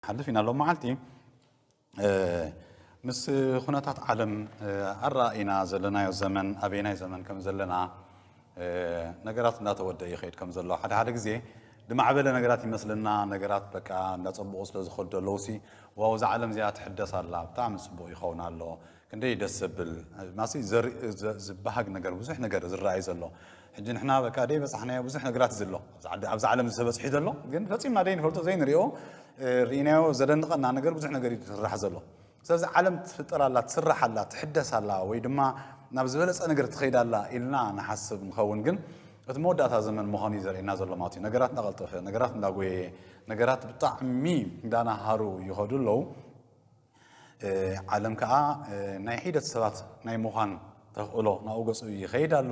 ሓልፊና ሎም መዓልቲ ምስ ኩነታት ዓለም ኣረኣኢና ዘለናዮ ዘመን ኣበየናይ ዘመን ከም ዘለና ነገራት እንዳተወደኣ ይኸይድ ከም ዘሎ ሓደ ሓደ ግዜ ድማዕበለ ነገራት ይመስለና ነገራት በቃ እንዳጸቡቑ ስለ ዝኸዱ ኣለዉሲ ዋው እዛ ዓለም እዚኣ ትሕደስ ኣላ ብጣዕሚ ጽቡቕ ይኸውን ኣሎ ክንደይ ደስ ዘብል ማሲ ዝበሃግ ነገር ብዙሕ ነገር ዝረኣይ ዘሎ ሕጂ ንሕና በቃ ደይ በጻሕናዮ ብዙሕ ነገራት እዩ ዘሎ ኣብዚ ዓለም እዚ ተበጽሒ ዘሎ ግን ፈጺምና ደይ ንፈልጦ ዘይንሪኦ ርኢናዮ ዘደንቐና ነገር ብዙሕ ነገር እዩ ዝስራሕ ዘሎ ስለዚ ዓለም ትፍጠር ኣላ፣ ትስራሕ ኣላ፣ ትሕደስ ኣላ ወይ ድማ ናብ ዝበለጸ ነገር ትኸይድ ኣላ ኢልና ንሓስብ ንኸውን ግን እቲ መወዳእታ ዘመን ምዃኑ እዩ ዘርእየና ዘሎ ማለት እዩ ነገራት እንዳቐልጠፈ ነገራት እንዳጎየየ ነገራት ብጣዕሚ እንዳናሃሩ ይኸዱ ኣለዉ ዓለም ከዓ ናይ ሒደት ሰባት ናይ ምዃን ተኽእሎ ናብኡ ገጹ ይኸይድ ኣሎ።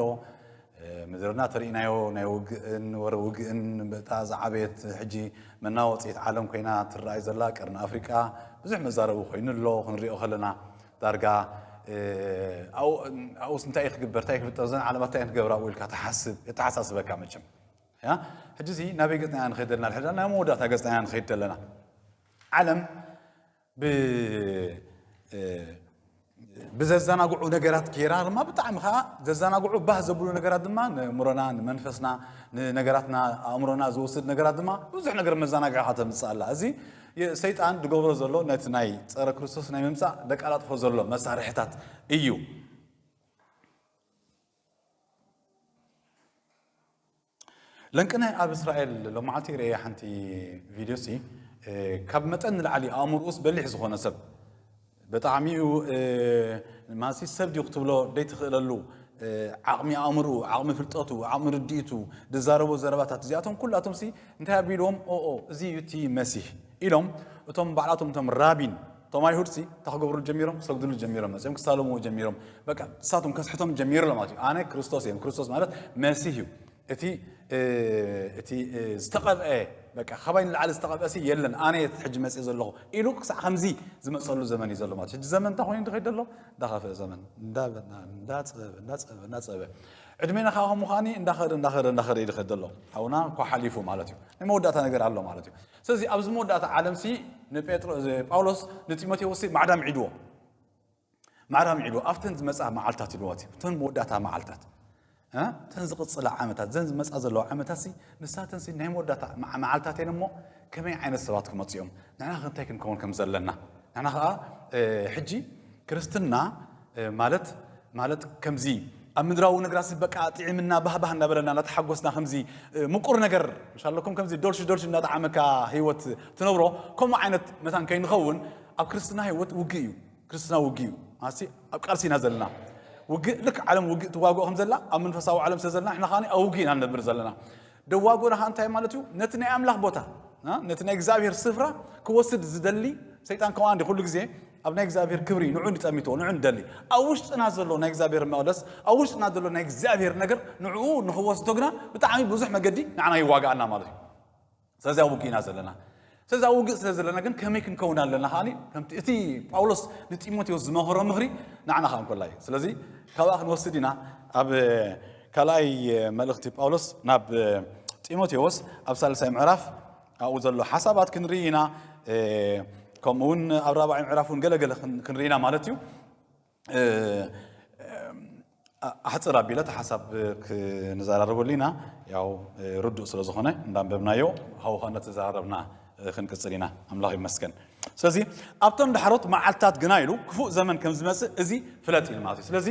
ምድርና እቲ ርኢናዮ ናይ ውግእን ወረ ውግእን እታ ዝዓበየት ሕጂ መናወጺት ዓለም ኮይና ትረኣይ ዘላ ቀርኒ ኣፍሪቃ ብዙሕ መዛረቢ ኮይኑ ኣሎ ክንሪኦ ከለና ዳርጋ ኣብኡስ እንታይ እዩ ክግበር እንታይ ክፍጠር ዘን ዓለማት እንታይ ክገብራ ኣብኡ ኢልካ ትሓስብ የተሓሳስበካ መቸም ያ ሕጂ እዚ ናበይ ገጽና ኢና ንኸይድ ዘለና ሕዳ ናይ መወዳእታ ገጽና ኢና ንኸይድ ዘለና ዓለም ብዘዘናግዑ ነገራት ገይራ ድማ ብጣዕሚ ከዓ ዘዘናግዑ ባህ ዘብሉ ነገራት ድማ ንእምሮና ንመንፈስና ንነገራትና ኣእምሮና ዝወስድ ነገራት ድማ ብዙሕ ነገር መዘናግዒ ካ ተምፅእ ኣላ እዚ ሰይጣን ዝገብሮ ዘሎ ነቲ ናይ ፀረ ክርስቶስ ናይ ምምፃእ ደቃላጥፎ ዘሎ መሳርሕታት እዩ ለንቅነ ኣብ እስራኤል ሎማዓልቲ ርእየ ሓንቲ ቪድዮ ሲ ካብ መጠን ንላዕሊ ኣእምሮኡስ በሊሕ ዝኾነ ሰብ ብጣዕሚኡ ማሲ ሰብ ድዩ ክትብሎ ደይትኽእለሉ ዓቕሚ ኣእምርኡ ዓቕሚ ፍልጠቱ ዓቕሚ ርድኢቱ ዝዛረቦ ዘረባታት እዚኣቶም ኩላቶም ሲ እንታይ ኣቢልዎም ኦኦ እዚ እዩ እቲ መሲህ ኢሎም እቶም ባዕላቶም እቶም ራቢን እቶም ኣይሁድሲ እንታይ ክገብሩ ጀሚሮም ክሰግድሉ ጀሚሮም መፅኦም ክሳለምዎ ጀሚሮም በቃ ንሳቶም ከስሕቶም ጀሚሩ ማለት እዩ ኣነ ክርስቶስ እዮም ክርስቶስ ማለት መሲህ እዩ እቲ እቲ ዝተቐብአ በቃ ካባይ ንላዕሊ ዝተቐብአ ሲ የለን ኣነ እየ ሕጂ መፅእ ዘለኹ ኢሉ ክሳዕ ከምዚ ዝመፀሉ ዘመን እዩ ዘሎ ማለት ሕጂ ዘመን እንታይ ኮይኑ ድኸይድ ዘሎ እንዳኸፍአ ዘመን እንዳፀበበ እንዳፀበበ እንዳፀበበ ዕድሜና ከዓ ከምኡ ከዓኒ እንዳኸደ እንዳኸደ እንዳኸደ እዩ ድኸይድ ዘሎ ሓውና እኳ ሓሊፉ ማለት እዩ ናይ መወዳእታ ነገር ኣሎ ማለት እዩ ስለዚ ኣብዚ መወዳእታ ዓለምሲ ንጴጥሮ ጳውሎስ ንጢሞቴዎስሲ ማዕዳ ምዒድዎ ማዕዳ ምዒድዎ ኣብተን ዝመጽኣ መዓልትታት ኢልዎ እቲ እተን መወዳእታ መዓልትታት እተን ዝቕጽላ ዓመታት ዘን ዝመጽኣ ዘለዋ ዓመታትሲ ንሳተንሲ ናይ መወዳእታ መዓልትታት እየን እሞ ከመይ ዓይነት ሰባት ክመፁ እዮም ንሕና ከ እንታይ ክንከውን ከም ዘለና ንሕና ከዓ ሕጂ ክርስትና ማለት ማለት ከምዚ ኣብ ምድራዊ ነግራሲ በቃ ጥዒምና ባህባህ እናበለና እናተሓጎስና ከምዚ ምቁር ነገር ምስ ኣለኩም ከምዚ ዶልሽ ዶልሽ እናጠዓመካ ህይወት ትነብሮ ከምኡ ዓይነት መታን ከይንኸውን ኣብ ክርስትና ህይወት ውግእ እዩ ክርስትና ውግእ እዩ ማለትሲ ኣብ ቃልሲ ኢና ዘለና ውግእ ልክ ዓለም ውግእ ትዋግኦ ከም ዘላ ኣብ መንፈሳዊ ዓለም ስለ ዘለና ንሕና ከዓኒ ኣብ ውግእ ኢና ንነብር ዘለና ደዋጎላሃ እንታይ ማለት እዩ? ነቲ ናይ ኣምላኽ ቦታ ነቲ ናይ እግዚኣብሔር ስፍራ ክወስድ ዝደሊ ሰይጣን ከምኡ እንዲ ኩሉ ግዜ ኣብ ናይ እግዚኣብሔር ክብሪ ንዑ ንጠሚትዎ ንዑ ንደሊ ኣብ ውሽጥና ዘሎ ናይ እግዚኣብሔር መቕደስ ኣብ ውሽጥና ዘሎ ናይ እግዚኣብሔር ነገር ንዕኡ ንክወስዶ ግና ብጣዕሚ ብዙሕ መገዲ ንዓና ይዋጋኣና ማለት እዩ ስለዚ ኣብ ውግእና ዘለና ስለዚ ኣብ ውግእ ስለ ዘለና ግን ከመይ ክንከውን ኣለና ከኣ ከምቲ እቲ ጳውሎስ ንጢሞቴዎስ ዝመኸሮ ምኽሪ ንዓና ከኣ እንኮላ እዩ ስለዚ ካብኣ ክንወስድ ኢና ኣብ ካልኣይ መልእኽቲ ጳውሎስ ናብ ጢሞቴዎስ ኣብ ሳልሳይ ምዕራፍ ኣብኡ ዘሎ ሓሳባት ክንርኢ ኢና ከምኡውን ኣብ ራብዓይ ምዕራፍ እውን ገለገለ ክንርኢ ኢና ማለት እዩ ኣሕፅር ኣቢለ እቲ ሓሳብ ክንዘራረበሉ ኢና ያው ርዱእ ስለ ዝኾነ እንዳንበብናዮ ሃው ኸነ ተዘራረብና ክንቅፅል ኢና ኣምላኽ ይመስገን ስለዚ ኣብቶም ዳሕሮት መዓልትታት ግና ኢሉ ክፉእ ዘመን ከም ዝመፅእ እዚ ፍለጥ ኢሉ ማለት እዩ ስለዚ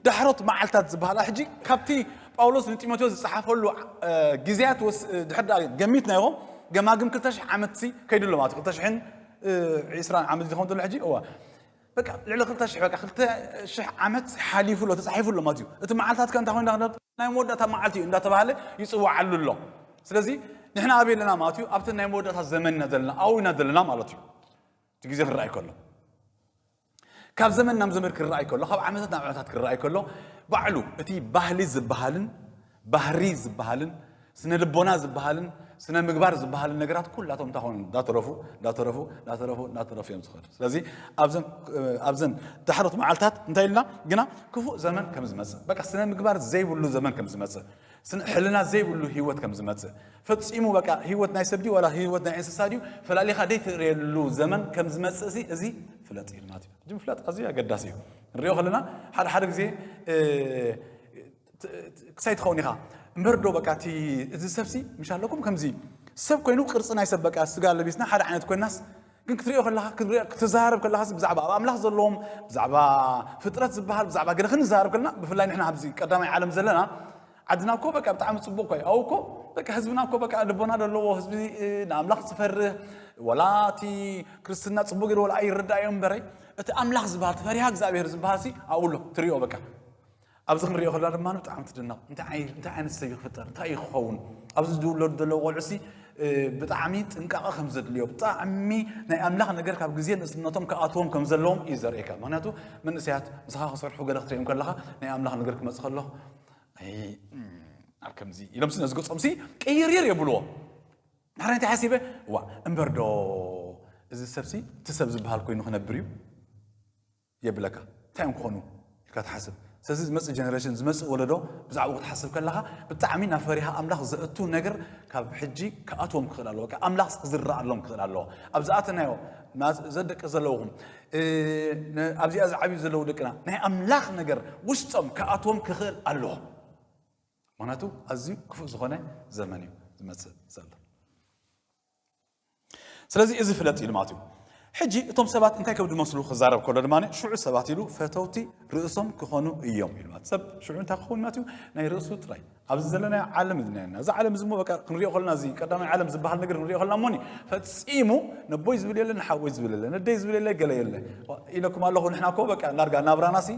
ዳሕሮት መዓልትታት ዝበሃላ ሕጂ ካብቲ ጳውሎስ ንጢሞቴዎስ ዝፀሓፈሉ ግዜያት ድሕር ገሚትና ይኹ ገማግም ክልተ ሽሕ ዓመት ከይዱ ኣሎ ማለት እዩ ክልተ ሽሕን ዒስራን ዓመት ዝኸውን ዘሎ ሕጂ እወ በቃ ልዕሊ ክልተ ሽሕ በቃ ክልተ ሽሕ ዓመት ሓሊፉ ኣሎ ተጻሒፉ ኣሎ ማለት እዩ እቲ መዓልታት ከ እንታይ ኮይኑ ክንደት ናይ መወዳእታ መዓልቲ እዩ እንዳተባሃለ ይጽዋዓሉ ኣሎ ስለዚ ንሕና ኣበይ ኣለና ማለት እዩ ኣብቲ ናይ መወዳእታ ዘመን ኢና ዘለና ኣብኡ ኢና ዘለና ማለት እዩ እቲ ግዜ ክረኣይ ከሎ ካብ ዘመን ናብ ዘመን ክረኣይ ከሎ ካብ ዓመታት ናብ ዓመታት ክረኣይ ከሎ ባዕሉ እቲ ባህሊ ዝበሃልን ባህሪ ዝበሃልን ስነ ልቦና ዝበሃልን ስነ ምግባር ዝበሃልን ነገራት ኩላቶም እንታይ ኮኑ እንዳተረፉ እንዳተረፉ እንዳተረፉ እንዳተረፉ እዮም ዝኸዱ ስለዚ ኣብዘን ዳሕሮት መዓልታት እንታይ ኢልና ግና ክፉእ ዘመን ከም ዝመፅእ በቃ ስነ ምግባር ዘይብሉ ዘመን ከም ዝመፅእ ሕልና ዘይብሉ ህይወት ከም ዝመፅእ ፈፂሙ በቃ ህይወት ናይ ሰብ ድዩ ዋላ ህይወት ናይ እንስሳ ድዩ ፈላሊኻ ደይትርእየሉ ዘመን ከም ዝመፅእ ሲ እዚ ፍለጥ ኢልና እቲ ምፍላጥ ኣዝዩ ኣገዳሲ እዩ ንሪኦ ከለና ሓደ ሓደ ግዜ ክሳይ ትኸውን ኢኻ እምበር ዶ በቃ እቲ እዚ ሰብሲ ምሽ ኣለኩም ከምዚ ሰብ ኮይኑ ቅርፂ ናይ ሰብ በቃ ስጋ ለቢስና ሓደ ዓይነት ኮይናስ ግን ክትሪኦ ከለካ ክትዛረብ ከለካ ብዛዕባ ኣብ ኣምላኽ ዘለዎም ብዛዕባ ፍጥረት ዝበሃል ብዛዕባ ገለ ክንዛረብ ከለና ብፍላይ ንሕና ኣብዚ ቀዳማይ ዓለም ዘለና ዓድና እኮ በቃ ብጣዕሚ ፅቡቅ ኮይ ኣው እኮ በቃ ህዝብና እኮ በቃ ልቦና ዘለዎ ህዝቢ ንኣምላኽ ዝፈርህ ወላ እቲ ክርስትና ፅቡቅ ገይሩ ወላ ኣይረዳእዮ እምበረይ እቲ ኣምላኽ ዝበሃል እቲ ፈሪሃ እግዚኣብሄር ዝበሃል ሲ ኣብኡ ኣሎ ትሪኦ በቃ ኣብዚ ክንሪኦ ከለና ድማ ብጣዕሚ ትድነቕ እንታይ ዓይነት ሰብ ክፍጠር እንታይ እዩ ክኸውን ኣብዚ ዝውለዱ ዘለዉ ቆልዑሲ ብጣዕሚ ጥንቃቐ ከም ዘድልዮ ብጣዕሚ ናይ ኣምላኽ ነገር ካብ ግዜ ንእስነቶም ክኣትዎም ከም ዘለዎም እዩ ዘርእየካ ምክንያቱ መንእሰያት ምስኻ ክሰርሑ ገለ ክትሪኦም ከለኻ ናይ ኣምላኽ ነገር ክመፅእ ከሎ ኣብ ከምዚ ኢሎም ሲ ነዚ ገፆም ሲ ቅይርይር የብልዎ ንሓደ እንታይ ሓሲበ ዋ እምበር ዶ እዚ ሰብሲ እቲ ሰብ ዝበሃል ኮይኑ ክነብር እዩ የብለካ እንታይ እዮም ክኾኑ ኢልካ ትሓስብ ስለዚ ዝመፅእ ጀነሬሽን ዝመፅእ ወለዶ ብዛዕባ ክትሓስብ ከለካ ብጣዕሚ ናብ ፈሪሃ ኣምላኽ ዘእቱ ነገር ካብ ሕጂ ክኣትዎም ክኽእል ኣለዎ ኣምላኽ ክዝረኣሎም ክኽእል ኣለዎ ኣብ ዝኣተናዮ ዘደቂ ዘለውኹም ኣብዚኣ ዝዓብዩ ዘለዉ ደቅና ናይ ኣምላኽ ነገር ውሽጦም ክኣትዎም ክኽእል ኣለዎ ምክንያቱ ኣዝዩ ክፉእ ዝኾነ ዘመን እዩ ዝመፅእ ዘሎ ስለዚ እዚ ፍለጥ ኢሉ ማለት እዩ። ሕጂ እቶም ሰባት እንታይ ከብዱ መስሉ ክዛረብ ከሎ ድማ ሽዑ ሰባት ኢሉ ፈተውቲ ርእሶም ክኾኑ እዮም ኢሉ ማለት ሰብ ሽዑ እንታይ ክኸውን ማለት እዩ ናይ ርእሱ ጥራይ ኣብዚ ዘለና ዓለም ዝናየና እዚ ዓለም እዚ እሞ በቃ ክንሪኦ ከለና እዚ ቀዳማይ ዓለም ዝበሃል ነገር ክንሪኦ ከለና እሞኒ ፈጺሙ ነቦይ ዝብል የለ ንሓወይ ዝብል የለ ነደይ ዝብል የለ ገለ የለ ኢለኩም ኣለኹ ንሕና እኮ በቃ ዳርጋ ናብራናሲ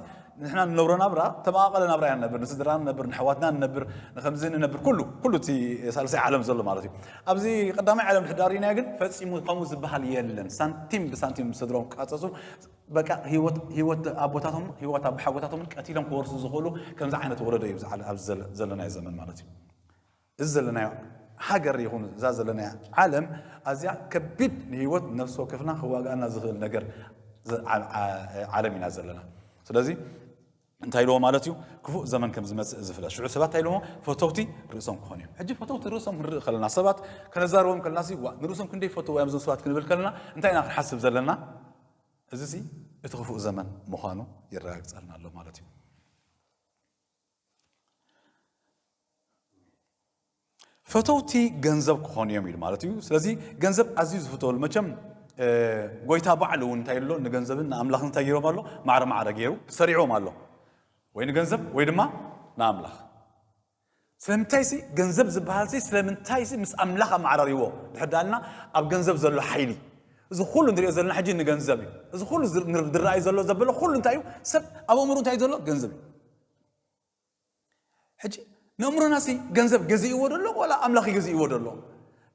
ንሕና ንነብሮ ናብራ ተመቓቐለ ናብራ ኢና ንነብር ንስድራና ንነብር ንሕዋትና ንነብር ንከምዚ ንነብር ኩሉ ኩሉ እቲ ሳልሳይ ዓለም ዘሎ ማለት እዩ ኣብዚ ቀዳማይ ዓለም ድሕዳር ኢና ግን ፈፂሙ ከምኡ ዝበሃል የለን ሳንቲም ብሳንቲም ስድሮም ክቃፀፁ በቃ ህይወት ኣቦታቶም ህይወት ኣቦሓጎታቶም ቀቲሎም ክወርሱ ዝኽእሉ ከምዚ ዓይነት ወለዶ እዩ ኣብዚ ዘለናዮ ዘመን ማለት እዩ እዚ ዘለናዮ ሃገር ይኹን እዛ ዘለናያ ዓለም ኣዝያ ከቢድ ንህይወት ነፍሲ ወከፍና ክዋግኣና ዝኽእል ነገር ዓለም ኢና ዘለና ስለዚ እንታይ ኢልዎ ማለት እዩ ክፉእ ዘመን ከም ዝመፅእ ዝፍለጥ ሽዑ ሰባት እንታይ ኢልዎ ፈተውቲ ርእሶም ክኾኑ እዮም ሕጂ ፈተውቲ ርእሶም ክንርኢ ከለና ሰባት ከነዛርቦም ከለና ሲ ንርእሶም ክንደይ ፈትዎ እዮም እዞም ሰባት ክንብል ከለና እንታይ ኢና ክንሓስብ ዘለና እዚ ሲ እቲ ክፉእ ዘመን ምዃኑ የረጋግፀልና ኣሎ ማለት እዩ ፈተውቲ ገንዘብ ክኾኑ እዮም ኢሉ ማለት እዩ ስለዚ ገንዘብ ኣዝዩ ዝፍተወሉ መቸም ጎይታ ባዕሉ እውን እንታይ ኣሎ ንገንዘብን ንኣምላኽን እንታይ ገይሮም ኣሎ ማዕረ ማዕረ ገይሩ ሰሪዕዎም ኣሎ ወይ ንገንዘብ ወይ ድማ ንኣምላኽ ስለምንታይ ሲ ገንዘብ ዝበሃል ሲ ስለምንታይ ሲ ምስ ኣምላኽ ኣመዓራሪዎ ድሕር ዳኣልና ኣብ ገንዘብ ዘሎ ሓይሊ እዚ ኩሉ ንሪኦ ዘለና ሕጂ ንገንዘብ እዩ እዚ ኩሉ ዝረኣዩ ዘሎ ዘበለ ኩሉ እንታይ እዩ ሰብ ኣብ ኣእምሩ እንታይ እዩ ዘሎ ገንዘብ እዩ ሕጂ ንእምሮናሲ ገንዘብ ገዚእዎ ደሎ ዋላ ኣምላኽ ይገዚእዎ ደሎ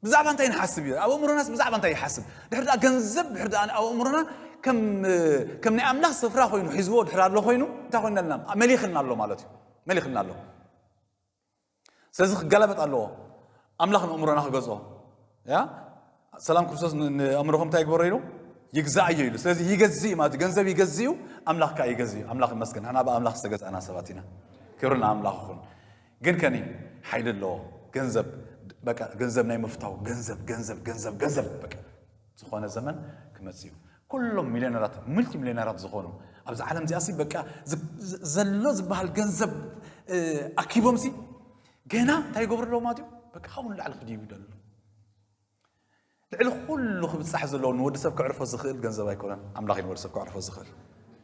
ብዛዕባ እንታይ ንሓስብ እዩ ኣብ እምሮናስ ብዛዕባ እንታይ ይሓስብ ድሕሪ ድኣ ገንዘብ ድሕሪ ድኣ ኣብ እምሮና ከም ናይ ኣምላኽ ስፍራ ኮይኑ ሒዝዎ ድሕሪ ኣሎ ኮይኑ እንታይ ኮይና ኣለና መሊኽና ኣሎ ማለት እዩ መሊኽና ኣሎ ስለዚ ክገላበጥ ኣለዎ ኣምላኽ ንእምሮና ክገዝኦ ያ ሰላም ክርስቶስ ንእምሮኹም እንታይ ይግበሮ ኢሉ ይግዛእዮ ኢሉ ስለዚ ይገዝእ እዩ ማለት ገንዘብ ይገዝ እዩ ኣምላኽ ከዓ ይገዝ እዩ ኣምላኽ ይመስገን ንሕና ብኣምላኽ ዝተገዛእና ሰባት ኢና ክብሪ ንኣምላኽ ይኹን ግን ከኒ ሓይሊ ኣለዎ ገንዘብ በቃ ገንዘብ ናይ ምፍታው ገንዘብ ገንዘብ ገንዘብ ገንዘብ በቃ ዝኾነ ዘመን ክመፅ እዩ ኩሎም ሚልዮነራት ሙልቲ ሚልዮነራት ዝኾኑ ኣብዚ ዓለም እዚኣ ሲ በቃ ዘሎ ዝበሃል ገንዘብ ኣኪቦም ሲ ገና እንታይ ይገብሩ ኣለዎ ማለት እዩ በቃ ካብኡ ንላዕሊ ክድይቡ ይደሉ ልዕሊ ኩሉ ክብፃሕ ዘለዎ ንወዲ ሰብ ክዕርፎ ዝኽእል ገንዘብ ኣይኮነን ኣምላኽ እዩ ንወዲ ሰብ ክዕርፎ ዝኽእል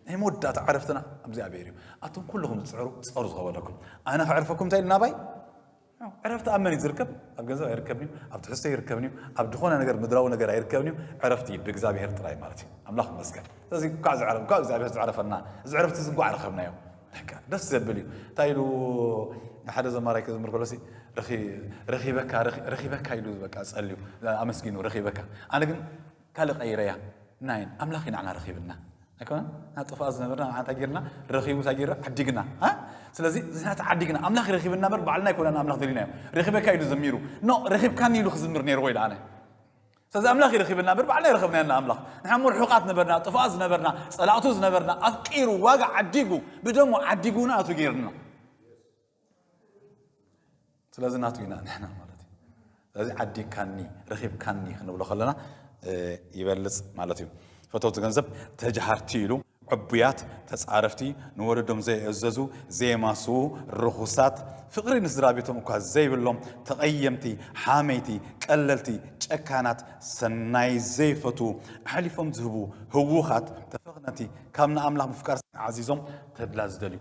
ናይ መወዳእታ ዕረፍትና እግዚኣብሔር እዩ ኣቶም ኩልኹም ዝፅዕሩ ፀሩ ዝኸበለኩም ኣነ ክዕርፈኩም እንታይ ኢልና ባይ ዕረፍቲ ኣብ መን እዩ ዝርከብ? ኣብ ገንዘብ ኣይርከብን እዩ፣ ኣብ ትሕዝቶ ኣይርከብን እዩ፣ ኣብ ዝኾነ ነገር ምድራዊ ነገር ኣይርከብን እዩ፣ ዕረፍቲ እዩ ብእግዚኣብሔር ጥራይ ማለት እዩ። ኣምላኽ ይመስገን። ስለዚ እንኳዕ ዝዕረ እንኳዕ እግዚኣብሔር ዝዕረፈና እዚ ዕረፍቲ እዚ እንኳዕ ረኸብናዮ። ደስ ዘብል እዩ። እንታይ ኢሉ ሓደ ዘማራይ ክዝምር ከሎሲ ረኺበካ ረኺበካ ኢሉ በቃ ጸልዩ ኣመስጊኑ ረኺበካ። ኣነ ግን ካልእ ቀይረያ ናይን ኣምላኽ ኢና ንዓና ረኺብና ኣይኮነን ና ጥፋኣ ዝነበርና ንዓና እንታይ ጌርና ረኺቡ እንታይ ጌርና ዓዲግና ስለዚ ንሕና ተዓዲግና ኣምላኽ ረኺብና በር ባዕልና ኣይኮና ንኣምላኽ ደሊናዮ ረኺበካ ኢሉ ዘሚሩ ኖ ረኺብካኒ ኢሉ ክዝምር ነይርዎ ኢለ ኣነ ስለዚ ኣምላኽ ይረኺብና በር ባዕልና ይረኽብና ና ኣምላኽ ንሕና እሞ ርሑቃት ነበርና ጥፋኣ ዝነበርና ጸላእቱ ዝነበርና ኣፍቂሩ ዋጋ ዓዲጉ ብደሞ ዓዲጉና ኣቱ ጌርና ስለዚ ናቱ ኢና ንሕና ማለት እዩ ስለዚ ዓዲካኒ ረኺብካኒ ክንብሎ ከለና ይበልፅ ማለት እዩ ፈተውቲ ገንዘብ ተጃሃርቲ ኢሉ ዕቡያት ተፃረፍቲ ንወለዶም ዘየእዘዙ ዘየማስዉ ርኹሳት ፍቕሪ ንስድራ ቤቶም እኳ ዘይብሎም ተቐየምቲ ሓመይቲ ቀለልቲ ጨካናት ሰናይ ዘይፈቱ ኣሕሊፎም ዝህቡ ህውኻት ተፈኽነቲ ካብ ንኣምላኽ ምፍቃር ዓዚዞም ተድላ ዝደልዩ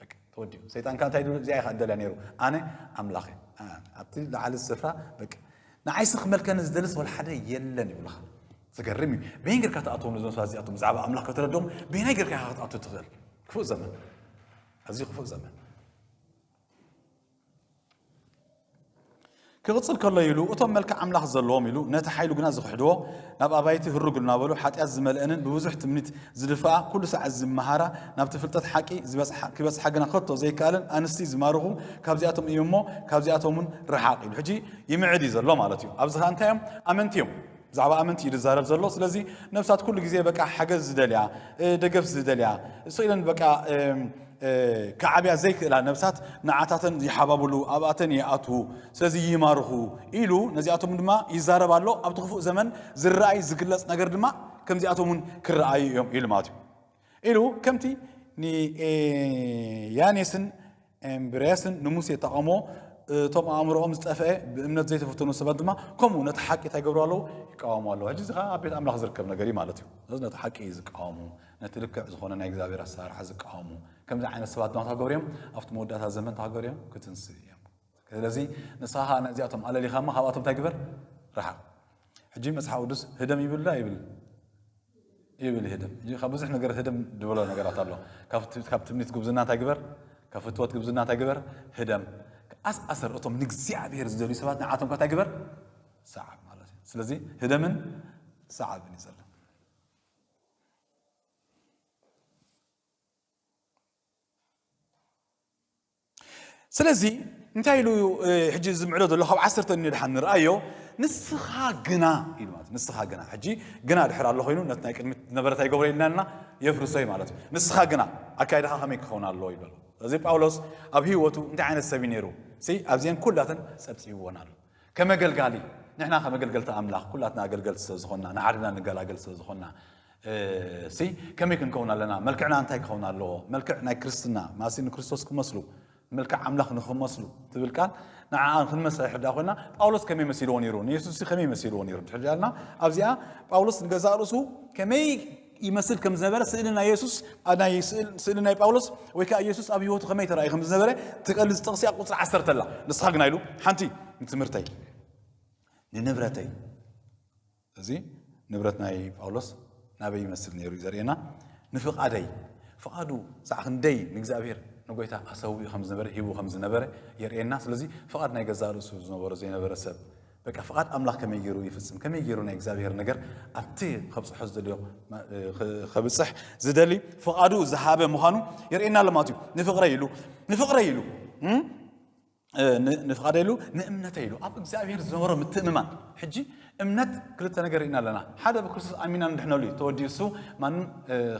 በቃ ተወዲኡ ሰይጣን ከ እንታይ ድብል እዚኣ ኢኻ እደልያ ነይሩ ኣነ ኣምላኽ ኣብቲ ላዓሊ ስፍራ በቃ ንዓይሲ ክመልከኒ ዝደልስ ወልሓደ የለን ይብልኻ ዝገርም እዩ በየን ጌርካ ትኣትዎም ነዞም ሰባት እዚኣቶም ብዛዕባ ኣምላኽ ከተረድኦም በየናይ ጌርካ ኢኻ ክትኣቱ ትኽእል ክፉእ ዘመን ኣዝዩ ክፉእ ዘመን ክቕጽል ከሎ ኢሉ እቶም መልክዕ ኣምላኽ ዘለዎም ኢሉ ነቲ ሓይሉ ግና ዝኽሕድዎ ናብ ኣባይቲ ህርግ እናበሉ ሓጢኣት ዝመልአንን ብብዙሕ ትምኒት ዝድፍኣ ኩሉ ሰዓት ዝመሃራ ናብቲ ፍልጠት ሓቂ ክበጽሓ ግና ከቶ ዘይከኣለን ኣንስቲ ዝማርኹ ካብዚኣቶም እዮም እሞ ካብዚኣቶም እውን ረሓቕ ኢሉ ሕጂ ይምዕድ እዩ ዘሎ ማለት እዩ ኣብዚ ከዓ እንታይ እዮም ኣመንቲ እዮም ብዛዕባ ኣመንቲ እዩ ዝዛረብ ዘሎ ስለዚ ነብሳት ኩሉ ግዜ በቃ ሓገዝ ዝደልያ ደገፍ ዝደልያ ስቅ ኢለን በቃ ክዓብያ ዘይክእላ ነብሳት ንዓታተን ይሓባብሉ ኣብኣተን ይኣትዉ ስለዚ ይማርኹ ኢሉ ነዚኣቶም ድማ ይዛረብ ኣሎ ኣብቲ ክፉእ ዘመን ዝረኣይ ዝግለጽ ነገር ድማ ከምዚኣቶም እውን ክረኣዩ እዮም ኢሉ ማለት እዩ ኢሉ ከምቲ ንያኔስን እምብርያስን ንሙሴ ጠቐሞ እቶም ኣእምሮኦም ዝጠፍአ ብእምነት ዘይተፈተኑ ሰባት ድማ ከምኡ ነቲ ሓቂ እንታይ ገብሩ ኣለዉ ይቃወሙ ኣለዉ ሕጂ እዚ ከዓ ኣብ ቤት ኣምላኽ ዝርከብ ነገር እዩ ማለት እዩ ስለዚ ነቲ ሓቂ ዝቃወሙ ነቲ ልክዕ ዝኾነ ናይ እግዚኣብሔር ኣሰራርሓ ዝቃወሙ ከምዚ ዓይነት ሰባት ድማ ታገብሩ እዮም ኣብቲ መወዳእታ ዘመን ታገብሩ እዮም ክትንስእ እዮም ስለዚ ንስኻ ነዚኣቶም ኣለሊኻማ ካብኣቶም እንታይ ግበር ረሓቕ ሕጂ መጽሓፍ ቅዱስ ህደም ይብል ዶ ኣይብልን? ይብል ህደም። ሕጂ ካብ ብዙሕ ነገር ህደም ድብሎ ነገራት ኣሎ። ካብ ትምኒት ጉብዝና እንታይ ግበር፣ ካብ ፍትወት ጉብዝና እንታይ ግበር፣ ህደም። ኣስ ኣሰር እቶም ንእግዚኣብሔር ዝደልዩ ሰባት ንዓቶም ከታይ ግበር፣ ሰዓብ ማለት እዩ። ስለዚ ህደምን ሰዓብን እዩ ዘሎ። ስለዚ እንታይ ኢሉ እዩ ሕጂ ዝምዕዶ ዘሎ ካብ ዓሰርተ ንድሓን ንርኣዮ ንስኻ ግና ኢሉ ማለት ንስኻ ግና ሕጂ ግና ድሕር ኣሎ ኮይኑ ነት ናይ ቅድሚት ዝነበረ እንታይ ገብሮ ኢልና ኣለና የፍርሶ እዩ ማለት እዩ ንስኻ ግና ኣካይድኻ ከመይ ክኸውን ኣለዎ ይብሎ እዚ ጳውሎስ ኣብ ህይወቱ እንታይ ዓይነት ሰብ እዩ ነይሩ ሲ ኣብዚአን ኩላተን ጸብጺብዎን ኣሎ ከም ኣገልጋሊ ንሕና ከም ኣገልገልቲ ኣምላኽ ኩላትና ኣገልገልቲ ስለ ዝኾንና ንሓድና ንገላገል ስለ ዝኾንና ሲ ከመይ ክንከውን ኣለና መልክዕና እንታይ ክኸውን ኣለዎ መልክዕ ናይ ክርስትና ማሲ ንክርስቶስ ክመስሉ መልክዕ ኣምላኽ ንክመስሉ ትብል ቃል ንዓኣ ክንመስል ሕዳ ኮይና ጳውሎስ ከመይ መሲልዎ ነይሩ ንየሱስ ከመይ መሲልዎ ነይሩ ድሕር ዳልና ኣብዚኣ ጳውሎስ ንገዛእ ርእሱ ከመይ ይመስል ከም ዝነበረ ስእሊ ናይ የሱስ ናይ ስእሊ ናይ ጳውሎስ ወይ ከዓ የሱስ ኣብ ህይወቱ ከመይ ተራእዩ ከም ዝነበረ ትገልጽ ጥቕሲ ኣብ ቁፅሪ ዓሰርተ ኣላ ንስኻ ግና ኢሉ ሓንቲ ንትምህርተይ ንንብረተይ እዚ ንብረት ናይ ጳውሎስ ናበይ ይመስል ነይሩ እዩ ዘርእየና ንፍቓደይ ፍቓዱ ሳዕ ክንደይ ንእግዚኣብሔር ንጎይታ ኣሰዊ ከም ዝነበረ ሂቡ ከም ዝነበረ የርእየና ስለዚ ፍቓድ ናይ ገዛእ ርእሱ ዝነበሮ ዘይነበረ ሰብ በቃ ፍቓድ ኣምላኽ ከመይ ገይሩ ይፍጽም ከመይ ገይሩ ናይ እግዚኣብሔር ነገር ኣብቲ ከብጽሖ ዝደልዮ ከብጽሕ ዝደሊ ፍቓዱ ዝሃበ ምዃኑ የርእየና ኣሎ ማለት እዩ ንፍቕረ ኢሉ ንፍቕረ ኢሉ ንፍቓደ ኢሉ ንእምነተ ኢሉ ኣብ እግዚኣብሔር ዝነበሮ ምትእምማን ሕጂ እምነት ክልተ ነገር ኢና ኣለና ሓደ ብክርስቶስ ኣሚና ንድሕነሉ እዩ ተወዲሱ ማንም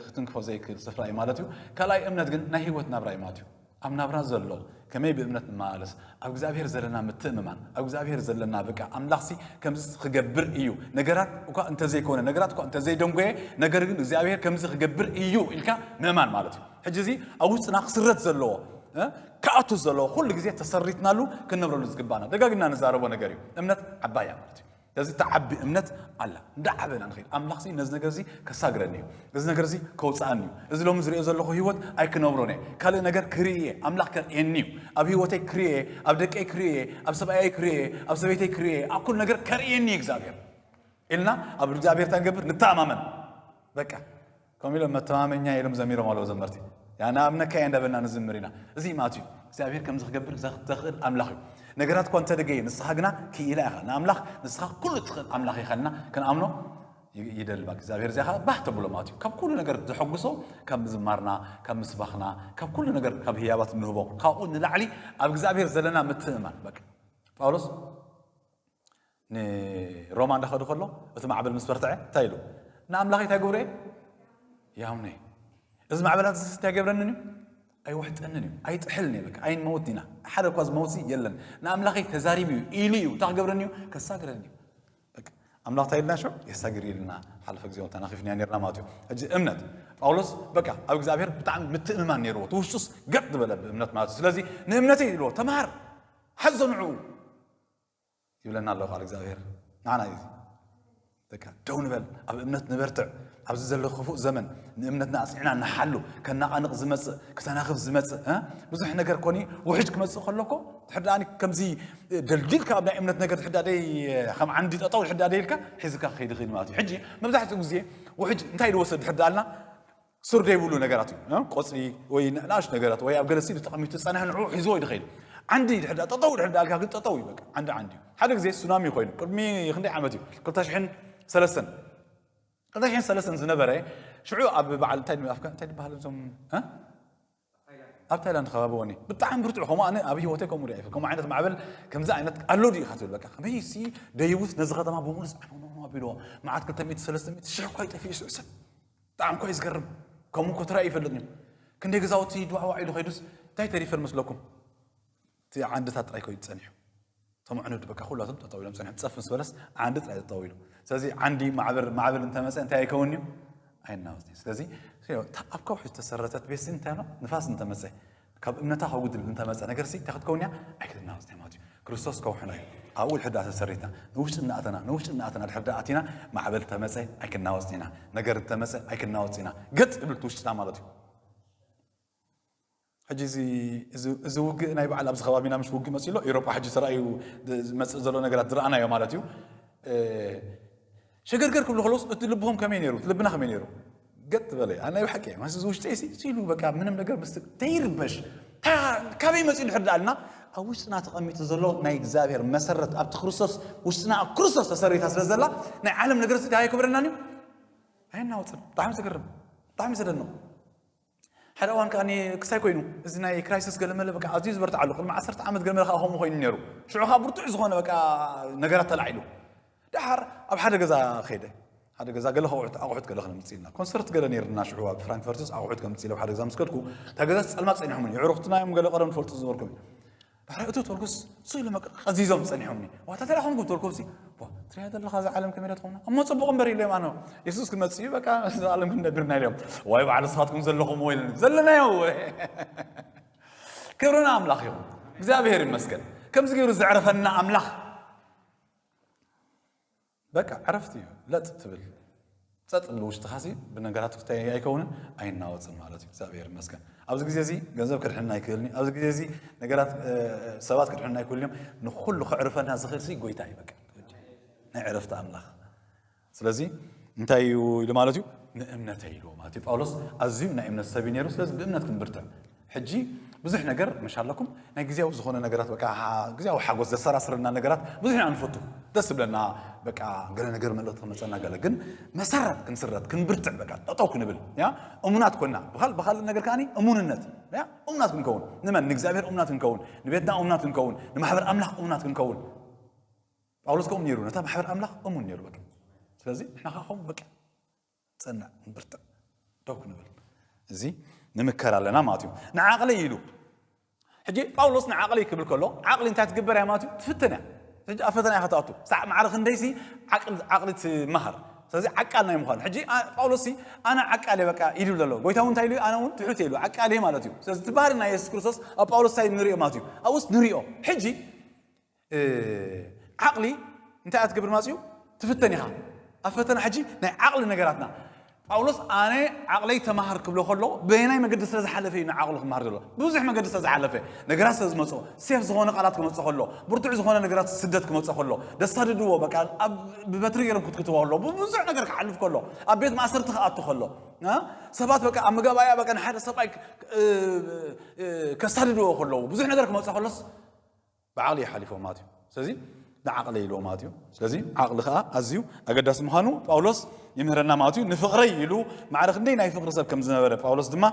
ክትንክፎ ዘይክእል ስፍራ እዩ ማለት እዩ ካልኣይ እምነት ግን ናይ ህይወት ናብራ እዩ ማለት እዩ ኣብ ናብራ ዘሎ ከመይ ብእምነት ንመላለስ ኣብ እግዚኣብሔር ዘለና ምትእምማን ኣብ እግዚኣብሔር ዘለና በቃ ኣምላኽሲ ከምዚ ክገብር እዩ ነገራት እኳ እንተዘይኮነ ነገራት እኳ እንተዘይደንጎየ ነገር ግን እግዚኣብሔር ከምዚ ክገብር እዩ ኢልካ ምእማን ማለት እዩ ሕጂ እዚ ኣብ ውሽጥና ክስረት ዘለዎ ክኣቱ ዘለዎ ኩሉ ግዜ ተሰሪትናሉ ክንነብረሉ ዝግባና ደጋግምና ንዛረቦ ነገር እዩ እምነት ዓባያ ማለት እዩ እዚ እትዓቢ እምነት ኣላ እንዳዓበ ኢና ንኸይድ ኣምላኽ ነዚ ነገር እዚ ከሳግረኒ እዩ እዚ ነገር እዚ ከውፅኣኒ እዩ እዚ ሎሚ ዝሪኦ ዘለኹ ህይወት ኣይክነብሮን እየ ካልእ ነገር ክርኢ እየ ኣምላኽ ከርእየኒ እዩ ኣብ ህይወተይ ክርኢ እየ ኣብ ደቀይ ክርኢ እየ ኣብ ሰብኣየይ ክርኢ እየ ኣብ ሰበይተይ ክርኢ እየ ኣብ ኩሉ ነገር ከርእየኒ እዩ እግዚኣብሔር ኢልና ኣብ እግዚኣብሔር እንታይ ንገብር ንተኣማመን በቃ ከምኡ ኢሎም መተማመኛይ ኢሎም ዘሚሮም ኣለዉ ዘመርቲ ያና ኣብነካየ እንዳበልና ንዝምር ኢና እዚ ማት እዩ እግዚኣብሔር ከምዚ ክገብር ዘኽእል ኣምላኽ እዩ ነገራት እኳ እንተደገየ ንስኻ ግና ክኢላ ኢኻ ንኣምላኽ ንስኻ ኩሉ እትኽእል ኣምላኽ ኢኻ ልና ክንኣምኖ ይደልባ እግዚኣብሔር እዚኣ ከዓ ባህ ተብሎ ማለት እዩ ካብ ኩሉ ነገር ዘሐጉሶ ካብ ምዝማርና ካብ ምስባኽና ካብ ኩሉ ነገር ካብ ህያባት እንህቦ ካብኡ ንላዕሊ ኣብ እግዚኣብሔር ዘለና ምትእማን በቃ ጳውሎስ ንሮማ እንዳኸዱ ከሎ እቲ ማዕበል ምስ በርትዐ እንታይ ኢሉ ንኣምላኸይ እንታይ ግብሩ እየ ያምነ እዚ ማዕበላት እዚ እንታይ ገብረንን እዩ ኣይውሕጠንን እዩ ኣይጥሕልን እዩ በቃ ኣይንመውት ኢና ሓደ እኳ ዝመውት የለን ንኣምላኸይ ተዛሪቡ እዩ ኢሉ እዩ እንታይ ክገብረኒ እዩ ከሳግረኒ እዩ ኣምላኽ እንታይ ኢልና ሸ የሳግር ኢልና ሓለፈ ግዜ እውን ተናኺፍና ነርና ማለት እዩ ሕጂ እምነት ጳውሎስ በቃ ኣብ እግዚኣብሔር ብጣዕሚ ምትእምማን ነይርዎ እቲ ውሽጡስ ገጥ ዝበለ ብእምነት ማለት እዩ ስለዚ ንእምነተይ ኢልዎ ተምሃር ሓዞ ንዕኡ ይብለና ኣሎ ቃል እግዚኣብሔር ንዓና እዩ በቃ ደው ንበል ኣብ እምነት ንበርትዕ ኣብዚ ዘሎ ክፉእ ዘመን ንእምነትና ኣፅኒዕና ንሓሉ ከናቓንቕ ዝመፅእ ክተናኽፍ ዝመፅእ ብዙሕ ነገር ኮኒ ውሕጅ ክመፅእ ከሎኮ ድሕር ድኣ ከምዚ ደልዲልካ ኣብ ናይ እምነት ነገር ድሕር ድኣ ደይ ከም ዓንዲ ጠጠው ድሕር ድኣ ደይልካ ሒዝካ ክኸይድ ይኽእል ማለት እዩ ሕጂ መብዛሕትኡ ግዜ ውሕጅ እንታይ ዝወሰድ ድሕር ድኣልና ሱር ዘይብሉ ነገራት እዩ ቆፅሊ ወይ ንእሽት ነገራት ወይ ኣብ ገለ ስእሊ ተቐሚጡ ዝፀንሐ ንዕኡ ሒዝዎ ይድኸይድ ዓንዲ ድሕር ዳ ጠጠው ድሕር ዳልካ ግን ጠጠው እዩ በቃ ዓንዲ ዓንዲ እዩ ሓደ ግዜ ሱናሚ ኮይኑ ቅድሚ ክንደይ ዓመት እዩ ክልተ ሽሕን ሰለስተን ክልተ ሽሕን ሰለስተን ዝነበረ ሽዑ ኣብ በዓል እንታይ እንታይ ዝበሃል እዞም ኣብ ታይላንድ ከባቢ ወኒ ብጣዕሚ ብርቱዕ ከምኡ ኣነ ኣብ ሂወተይ ከምኡ ሪኣ ከምኡ ዓይነት ማዕበል ከምዚ ዓይነት ኣሎ ድዩ ኢኻ ትብል በቃ ከመይ ሲ ደይቡስ ነዚ ከተማ ብምሉስ ዓነውነው ኣቢልዎ መዓት ክልተ ሚእቲ ሰለስተ ሚእቲ ሽሕ እኳ ይጠፍኡ ይስዑ ሰብ ብጣዕሚ እኳ ዝገርም ከምኡ እኮ ተራእዩ ይፈልጥን እዩ ክንደይ ገዛውቲ ድዋዕዋዕ ኢሉ ከይዱስ እንታይ ተሪፈን መስለኩም እቲ ዓንድታት ጥራይ ኮይኑ ጸኒሑ እቶም ኣዕኑድ በቃ ኩላቶም ጠጠው ኢሎም ጸኒሖም ጸፍ ምስ በለስ ዓንዲ ጥራይ ጠጠው ኢሉ ስለዚ ዓንዲ ማዕበር ማዕበል እንተመፀ እንታይ ኣይከውን እዩ ኣይናወፅ እዩ ስለዚ ኣብ ከውሒ ዝተሰረተት ቤት እንታይ ሎ ንፋስ እንተመፀ ካብ እምነታ ከጉድል እንተመፀ ነገር ሲ እንታይ ክትከውን እያ ኣይክትናወፅ እያ ማለት እዩ ክርስቶስ ከውሕና እዩ ኣብኡ ድሕር ዳኣ ተሰሪትና ንውሽጢ እናኣተና ንውሽጢ እናኣተና ድሕር ዳኣ ኣቲና ማዕበል ተመፀ ኣይክናወፅ ኢና ነገር እንተመፀ ኣይክናወፅ ኢና ገጥ ይብል ውሽጥና ማለት እዩ ሕጂ እዚ እዚ እዚ ውግእ ናይ በዓል ኣብዚ ከባቢና ምስ ውግእ መጽኡ ኣሎ ኤውሮጳ ሕጂ ተራእዩ ዝመጽእ ዘሎ ነገራት ዝረኣናዮ ማለት እዩ ሸገርገር ክብሉ ከለውስ እቲ ልብኹም ከመይ ነይሩ እቲ ልብና ከመይ ነይሩ ገጥ በለ ኣነ ናይ ብሓቂ ማስ እዚ ውሽጠይ ሲሉ በቃ ምንም ነገር ምስ ተይርበሽ ካበይ መጽኡ ድሕር ዳኣልና ኣብ ውሽጥና ተቐሚጡ ዘሎ ናይ እግዚኣብሔር መሰረት ኣብቲ ክርስቶስ ውሽጥና ኣብ ክርስቶስ ተሰሪታ ስለ ዘላ ናይ ዓለም ነገር ስዲ ኣይክብረናን እዩ ኣየናወፅን ብጣዕሚ ዘገርም ብጣዕሚ ዘደንቕ ሓደ እዋን ከኣ ክሳይ ኮይኑ እዚ ናይ ክራይሲስ ገለመለ በቃ ኣዝዩ ዝበርትዓሉ ቅድሚ ዓሰርተ ዓመት ገለመለ ከኣ ከምኡ ኮይኑ ነይሩ ሽዑ ከኣ ብርቱዕ ዝኾነ በቃ ነገራት ተላዒሉ ደሓር ኣብ ሓደ ገዛ ከይደ ሓደ ገዛ ገለ ከውዕት ኣቑሑት ገለ ክነምፅ ኢልና ኮንሰርት ገለ ነይርና ሽዑ ኣብ ፍራንክፈርትስ ኣቑሑት ከምፅ ኢለ ሓደ ገዛ ምስ ከድኩ እታ ገዛ ፀልማት ፀኒሖምን የዕሩኽትና እዮም ገለ ቀደም ንፈልጡ ዝበርኩም ባሕሪ እቱ ቶርኩስ ስእሉ መቅር ቀዚዞም ጸኒሖምኒ ዋታ ተላኹም ጉብ ቶርኩምሲ ትሪያ ዘለኻ እዛ ዓለም ከመይ ትኾና እሞ ጽቡቕ እምበር ኢሎም ኣነ የሱስ ክመጽእ እዩ በቃ እዛ ዓለም ክንነብርና ኢሎም ወይ በዓል ንስኻትኩም ዘለኹም ወይ ዘለናዮ ክብርና ኣምላኽ እዩ እግዚኣብሔር ይመስገን ከምዚ ገይሩ ዘዕረፈና ኣምላኽ በቃ ዕረፍቲ እዩ ለጥ ትብል ጸጥ ትብል ውሽጥኻ ሲ ብነገራት ክታይ ኣይከውንን ኣይናወጽን ማለት እዩ እግዚኣብሔር ይመስገን ኣብዚ ግዜ እዚ ገንዘብ ክድሕንን ኣይክእልን ኣብዚ ግዜ እዚ ነገራት ሰባት ክድሕንን ኣይክእልን እዮም ንኩሉ ክዕርፈና ዝኽእል ሲ ጎይታ እዩ በቃ ናይ ዕረፍቲ ኣምላኽ ስለዚ እንታይ እዩ ኢሉ ማለት እዩ ንእምነተይ ኢልዎ ማለት እዩ ጳውሎስ ኣዝዩ ናይ እምነት ሰብ እዩ ነይሩ ስለዚ ብእምነት ክንብርትዕ ሕጂ ብዙሕ ነገር መሻ ኣለኩም ናይ ግዜያዊ ዝኾነ ነገራት በቃ ግዜያዊ ሓጎስ ዘሰራስረና ነገራት ብዙሕ ኢና ንፈቱ ደስ ዝብለና በቃ ገለ ነገር መልእኽቲ ክመፀና ገለ ግን መሰረት ክንስረት ክንብርትዕ በቃ ጠጠው ክንብል ያ እሙናት ኮና ብካል ብካልእ ነገር ከዓኒ እሙንነት ያ እሙናት ክንከውን ንመን ንእግዚኣብሔር እሙናት ክንከውን ንቤትና እሙናት ክንከውን ንማሕበር ኣምላኽ እሙናት ክንከውን ጳውሎስ ከምኡ ነይሩ ነታ ማሕበር ኣምላኽ እሙን ነይሩ በቃ ስለዚ ንሕና ከዓ ከምኡ በቃ ጽናዕ ንብርትዕ ደው ክንብል እዚ ንምከር ኣለና ማለት እዩ ንዓቕሊ ኢሉ ሕጂ ጳውሎስ ንዓቕሊ ክብል ከሎ ዓቕሊ እንታይ ትግበር እያ ማለት እዩ ትፍትን እያ ሕጂ ኣብ ፈተና ኢኻ ትኣቱ ሳዕ ማዕረ ክንደይሲ ዓቕሊ ትመሃር ስለዚ ዓቃል ናይ ምዃኑ ሕጂ ጳውሎስ ኣነ ዓቃል በቃ ኢሉ ዘሎ ጎይታ እውን እንታይ ኢሉ ኣነ እውን ትሑት ኢሉ ዓቃል ማለት እዩ ስለዚ እቲ ባህሪ ናይ የሱስ ክርስቶስ ኣብ ጳውሎስ እንታይ ንሪኦ ማለት እዩ ኣብኡስ ንሪኦ ሕጂ ዓቕሊ እንታይ እያ ትገብር ማለት እዩ ትፍተን ኢኻ ኣብ ፈተና ሕጂ ናይ ዓቕሊ ነገራትና ጳውሎስ ኣነ ዓቕለይ ተማሃር ክብሎ ከሎ በየናይ መገዲ ስለ ዝሓለፈ እዩ ንዓቕሉ ክምሃር ዘሎ ብዙሕ መገዲ ስለ ዝሓለፈ ነገራት ስለ ዝመፅኦ ሴፍ ዝኾነ ቃላት ክመፅኦ ከሎ ብርቱዕ ዝኾነ ነገራት ስደት ክመፅኦ ከሎ ደሳድድዎ በቃ ብበትሪ ገይሮም ክትክትዎ ከሎ ብዙሕ ነገር ክሓልፍ ከሎ ኣብ ቤት ማእሰርቲ ክኣቱ ከሎ ሰባት በቃ ኣብ መጋባእያ በቃ ንሓደ ሰብኣይ ከሳድድዎ ከለዉ ብዙሕ ነገር ክመፅኦ ከሎስ ብዓቕሊ እዩ ሓሊፍዎ ማለት እዩ ስለዚ ንዓቕለይ ኢልዎ ማለት እዩ ስለዚ ዓቕሊ ከዓ ኣዝዩ ኣገዳሲ ምዃኑ ጳውሎስ ይምህረና ማለት እዩ ንፍቕረይ ኢሉ ማዕረ ክንደይ ናይ ፍቕሪ ሰብ ከም ዝነበረ ጳውሎስ ድማ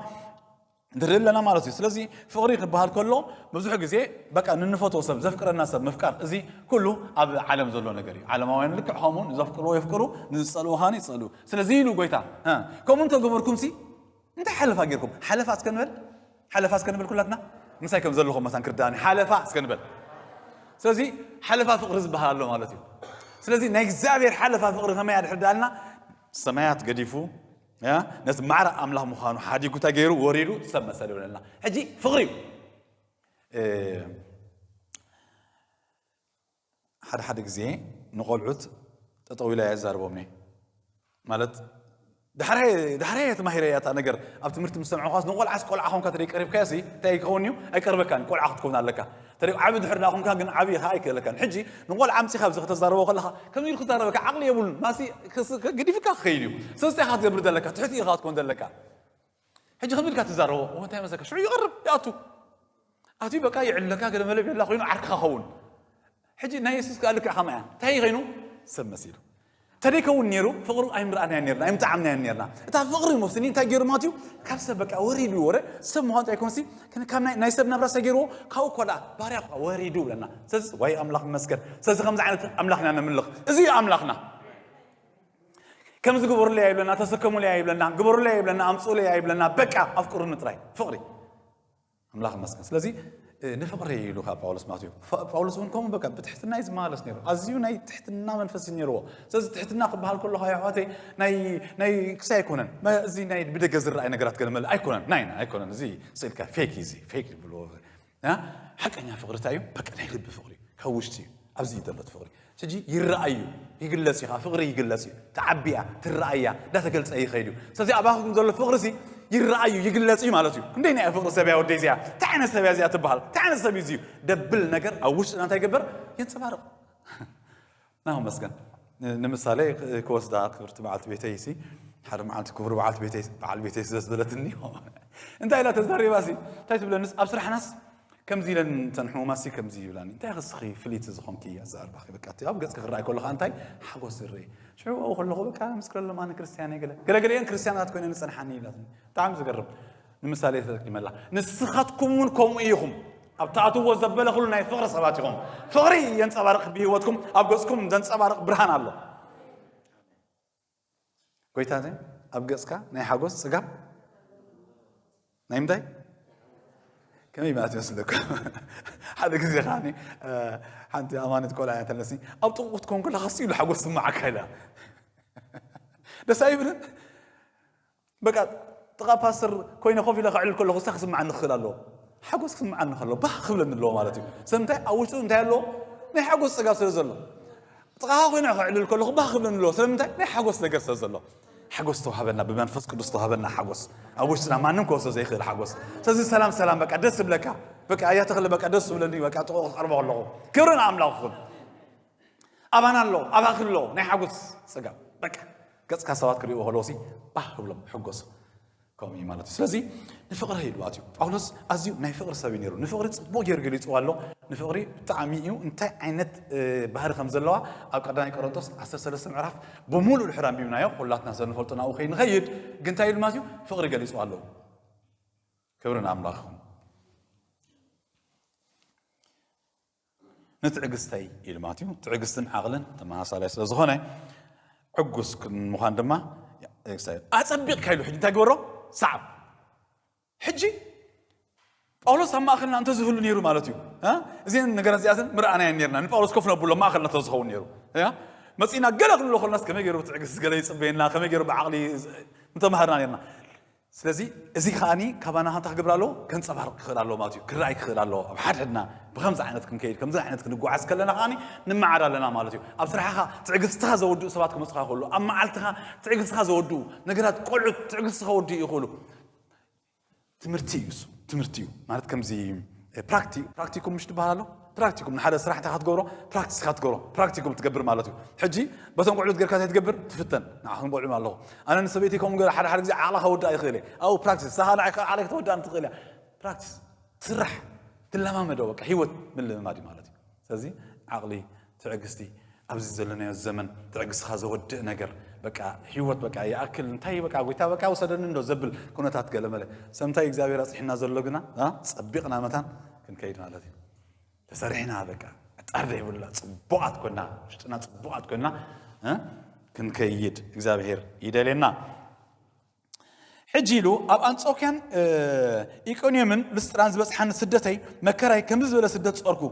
ንርኢ ኣለና ማለት እዩ ስለዚ ፍቕሪ ክበሃል ከሎ ብዙሕ ግዜ በቃ ንንፈትዎ ሰብ ዘፍቅረና ሰብ ምፍቃር እዚ ኩሉ ኣብ ዓለም ዘሎ ነገር እዩ ዓለማውያን ልክዕ ከምኡ ንዘፍቅርዎ የፍቅሩ ንዝፀልዎ ሃኒ ይፀልኡ ስለዚ ኢሉ ጎይታ ከምኡ እንተገበርኩምሲ እንታይ ሓለፋ ጌርኩም ሓለፋ እስከ ንበል ሓለፋ እስከ ንበል ኩላትና ምሳይ ከም ዘለኹም መታን ክርዳእኒ ሓለፋ እስከ ንበል ስለዚ ሓለፋ ፍቕሪ ዝበሃል ኣሎ ማለት እዩ ስለዚ ናይ እግዚኣብሔር ሓለፋ ፍቕሪ ከመይ ኣድሕር ዳልና ሰማያት ገዲፉ ነቲ ማዕረ ኣምላኽ ምዃኑ ሓዲጉ እንታይ ገይሩ ወሪዱ ሰብ መሰለ ይብለና ሕጂ ፍቕሪ እዩ ሓደ ሓደ ግዜ ንቆልዑት ጠጠው ኢለ እየ እዛርቦም እየ ማለት ዳሕራየ ዳሕራየ ተማሂረ እያ እታ ነገር ኣብ ትምህርቲ ምስ ሰምዕኳስ ንቆልዓስ ቆልዓ ኮንካ ተደይ ቀሪብካዮ ሲ እንታይ ክኸውን እዩ ኣይቀርበካን ቆልዓ ክትከውን ኣለካ ተደይ ዓቢ ድሕር ዳ ኮንካ ግን ዓብዪ ከዓ ኣይክእለካን ሕጂ ንቆልዓ ኣምፂኻ ብዚ ከተዛረቦ ከለካ ከምዚ ኢሉ ክዛረበካ ዓቕሊ የብሉን ማሲ ገዲፍካ ክኸይድ እዩ ስለዚ እንታይ ኢኻ ትገብር ዘለካ ትሕቲ ኢኻ ክትኮን ዘለካ ሕጂ ከምዚ ኢልካ ትዛረቦ እሞ እንታይ መሰልካ ሽዑ ይቕርብ ይኣቱ ኣትዩ በቃ ይዕለካ ገለ መለ ይብለላ ኮይኑ ዓርክኻ ኸውን ሕጂ ናይ የሱስ ከዓ ልክዕ ከማያ እንታይ እዩ ከይኑ ሰብ መሲሉ ተደይከውን ነይሩ ፍቕሩ ኣይምርኣናያ ነርና ኣይምጣዓምናያ ነርና እታ ፍቕሪ ሞስኒ እንታይ ገይሩ ማለት እዩ ካብ ሰብ በቃ ወሪዱ ወረ ሰብ ምዃኑ እንታይ ኮንሲ ካብ ናይ ሰብ ናብራ ሰ ገይርዎ ካብኡ እኮ ደኣ ባርያ እኳ ወሪዱ ብለና ስለዚ ዋይ ኣምላኽ መስገን ስለዚ ከምዚ ዓይነት ኣምላኽ ኢና ነምልኽ እዚ እዩ ኣምላኽና ከምዚ ግበሩለይ ኣይብለና ተሰከሙለይ ኣይብለና ግበሩለይ ኣይብለና ኣምፅኡለይ ኣይብለና በቃ ኣፍቅሩኒ ጥራይ ፍቕሪ ኣምላኽ መስገን ስለዚ ንፍቕሪ ኢሉ ካብ ጳውሎስ ማለት እዩ ጳውሎስ እውን ከምኡ በቃ ብትሕትና እዩ ዝመሃለስ ነይሩ ኣዝዩ ናይ ትሕትና መንፈስ እዩ ነይርዎ ስለዚ ትሕትና ክበሃል ከለካ ኣሕዋተይ ናይ ክሳይ ኣይኮነን እዚ ናይ ብደገ ዝረኣይ ነገራት ገለመለ ኣይኮነን ናይና ኣይኮነን እዚ ስእልካ ፌክ እዩ እዚ ፌክ ይብልዎ ሓቀኛ ፍቅሪ እንታይ እዩ በቃ ናይ ልቢ ፍቅሪ እዩ ካብ ውሽጢ እዩ ኣብዚ እዩ ዘሎ ፍቅሪ ሕጂ ይረኣይ እዩ ይግለጽ እዩ ፍቅሪ ይግለጽ እዩ ተዓቢ እያ ትረኣይ እያ እንዳተገልጸ ይኸይድ እዩ ስለዚ ኣባኹም ዘሎ ፍቅሪ ሲ ይረኣዩ ይግለጽ እዩ ማለት እዩ ክንደይ ናይ ፍቅሪ ሰብያ ወደይ እዚኣ እንታይ ዓይነት ሰብያ እዚኣ ትበሃል እንታይ ዓይነት ሰብ እዩ ደብል ነገር ኣብ ውሽጥና እንታይ ይገበር የንጸባርቕ ናሁ መስገን ንምሳሌ ክወስዳ ክብርቲ በዓልቲ ቤተይ ሲ ሓደ መዓልቲ ክብሪ በዓልቲ ቤተይ በዓል ቤተይ ስለ ዝበለትኒ እንታይ ኢላ ተዛሪባ ሲ እንታይ ትብለንስ ኣብ ስራሕናስ ከምዚ ኢለን እተን ሕሙማሲ ከምዚ ይብላኒ እንታይ ክስኺ ፍልይቲ ዝኾንኪ ኣዛርባኺ በቃ እቲ ኣብ ገፅኪ ክረኣይ ከሎ ከዓ እንታይ ሓጎስ ዝርኢ ሽዑ ኣብኡ ከለኹ በቃ ምስክረሎም ኣነ ክርስትያን እየ ገለ ገለገለየን ክርስትያናት ኮይነን ዝፀንሓኒ ይብላትኒ ብጣዕሚ ዝገርም ንምሳሌ ተጠቂመላ ንስኻትኩም እውን ከምኡ ኢኹም ኣብ ትኣትዎ ዘበለ ኩሉ ናይ ፍቕሪ ሰባት ኢኹም ፍቕሪ የንፀባርቕ ብሂወትኩም ኣብ ገፅኩም ዘንፀባርቕ ብርሃን ኣሎ ጎይታ እዚ ኣብ ገፅካ ናይ ሓጎስ ፅጋብ ናይ ምንታይ ከመይ ማለት ይመስለኩ ሓደ ግዜ ከዓ ሓንቲ ኣማነት ቆልዓ እያ ተለስኒ ኣብ ጥቕቁ ክትኮን ከለካ ኢሉ ሓጎስ ስማዓካ ኢላ ደስ ኣይብልን በቃ ጥቓ ፓስተር ኮይነ ኮፍ ኢለ ከዕልል ከለኹ እንታይ ክስምዓኒ ክኽእል ኣለዎ? ሓጎስ ክስምዓኒ ከሎ ባህ ክብለኒ ኣለዎ ማለት እዩ። ስለምንታይ ኣብ ውሽጡ እንታይ ኣለዎ? ናይ ሓጎስ ጸጋ ስለ ዘሎ። ጥቓኻ ኮይነ ከዕልል ከለኹ ባህ ክብለኒ ኣለዎ። ስለምንታይ ናይ ሓጎስ ነገር ስለ ዘሎ። ሓጎስ ተዋህበና ብመንፈስ ቅዱስ ተዋህበና ሓጎስ ኣብ ውሽጥና ማንም ክወስዶ ዘይክእል ሓጎስ ስለዚ ሰላም ሰላም በቃ ደስ ብለካ በቃ እያ ተክለ በቃ ደስ ብለኒ በቃ ጥቑ ክቐርቦ ከለኹ ክብሪ ንኣምላኽ ይኹን ኣባና ኣሎ ኣባኺ ኣሎ ናይ ሓጎስ ጽጋብ በቃ ገጽካ ሰባት ክርእይዎ ከለዎ ሲ ባህ ክብሎም ሕጎሱ ከምኡ እዩ ማለት እዩ ስለዚ ንፍቕሪ ኢሉ ኣትዩ ጳውሎስ ኣዝዩ ናይ ፍቕሪ ሰብ እዩ ነይሩ ንፍቕሪ ፅቡቅ ገይሩ ገሊፅዋ ኣሎ ንፍቕሪ ብጣዕሚ እዩ እንታይ ዓይነት ባህሪ ከም ዘለዋ ኣብ ቀዳማይ ቆሮንቶስ 13 ምዕራፍ ብምሉእ ድሕር ኣንቢብናዮ ኩላትና ሰብ ንፈልጦ ናብኡ ከይንኸይድ ግን እንታይ ኢሉ ማለት እዩ ፍቕሪ ገሊፅዋ ኣለዎ ክብሪ ንኣምላኽ ንትዕግስተይ ኢሉ ማለት እዩ። ትዕግስትን ዓቕልን ተመሳሳላይ ስለ ዝኾነ ዕጉስ ምዃን ድማ ኣጸቢቕካ ኢሉ ሕጂ እንታይ ገበሮ ሰዓብ ሕጂ ጳውሎስ ኣብ ማእኸልና እንተዝህሉ ነይሩ ማለት እዩ እዚን ነገራት እዚኣተን ምርኣናየን ነርና ንጳውሎስ ኮፍ ነብሎ ማእኸልና እንተዝኸውን ነይሩ መፂእና ገለ ክንብሎ ከለናስ ከመይ ገይሩ ብትዕግስቲ ገለ ይፅበየና ከመይ ገይሩ ብዓቕሊ ምተማሃርና ነርና ስለዚ እዚ ከኣ ካባና ሃንታ ክገብር ኣለዎ፣ ከንጸባርቕ ክኽእል ኣለዎ ማለት እዩ፣ ክረኣይ ክኽእል ኣለዎ። ኣብ ሓድሕድና ብከምዚ ዓይነት ክንከይድ ከምዚ ዓይነት ክንጓዓዝ ከለና ከኣ ንመዓድ ኣለና ማለት እዩ። ኣብ ስራሕኻ ትዕግስትኻ ዘወድኡ ሰባት ክመጹኻ ይኽእሉ፣ ኣብ መዓልትኻ ትዕግስትኻ ዘወድኡ ነገራት ቆልዑት ትዕግስቲ ከወድኡ ይኽእሉ። ትምህርቲ እዩ እሱ ትምህርቲ እዩ ማለት ከምዚ ፕራክቲ ፕራክቲኩም ምሽ ትበሃል ኣሎ ፕራክቲኩም ንሓደ ስራሕ እንታይ ክትገብሮ ፕራክቲስ ክትገብሮ ፕራክቲኩም ትገብር ማለት እዩ ሕጂ በቶም ቆልዑት ጌርካ እንታይ ትገብር ትፍተን ንዓኹም ቆልዑ ኣለኹ ኣነ ንሰበይቲ ከምኡ ገር ሓደ ሓደ ግዜ ዓቕላ ከወዳእ ይኽእል እየ ኣብኡ ፕራክቲስ ሳኻ ንዓይ ካብ ዓቕለይ ከተወዳእኒ ትኽእል እያ ፕራክቲስ ትስራሕ ትለማመዶ በቃ ሂወት ምልምማድ እዩ ማለት እዩ ስለዚ ዓቕሊ ትዕግስቲ ኣብዚ ዘለናዮ ዘመን ትዕግስትኻ ዘወድእ ነገር በቃ ሂወት በቃ ይኣክል እንታይ በቃ ጎይታ በቃ ውሰደኒ እንዶ ዘብል ኩነታት ገለመለ ሰምታይ እግዚኣብሔር ኣፅሒና ዘሎ ግና ፀቢቕና መታን ክንከይድ ማለት እዩ ተሰሪሕና በቃ ዕጣር ዘይብላ ፅቡቃት ኮና ውሽጥና ፅቡቃት ኮና ክንከይድ እግዚኣብሄር ይደልየና ሕጂ ኢሉ ኣብ ኣንጾኪያን ኢቆንዮምን ልስጥራን ዝበፅሓኒ ስደተይ መከራይ ከምዚ ዝበለ ስደት ፀርኩ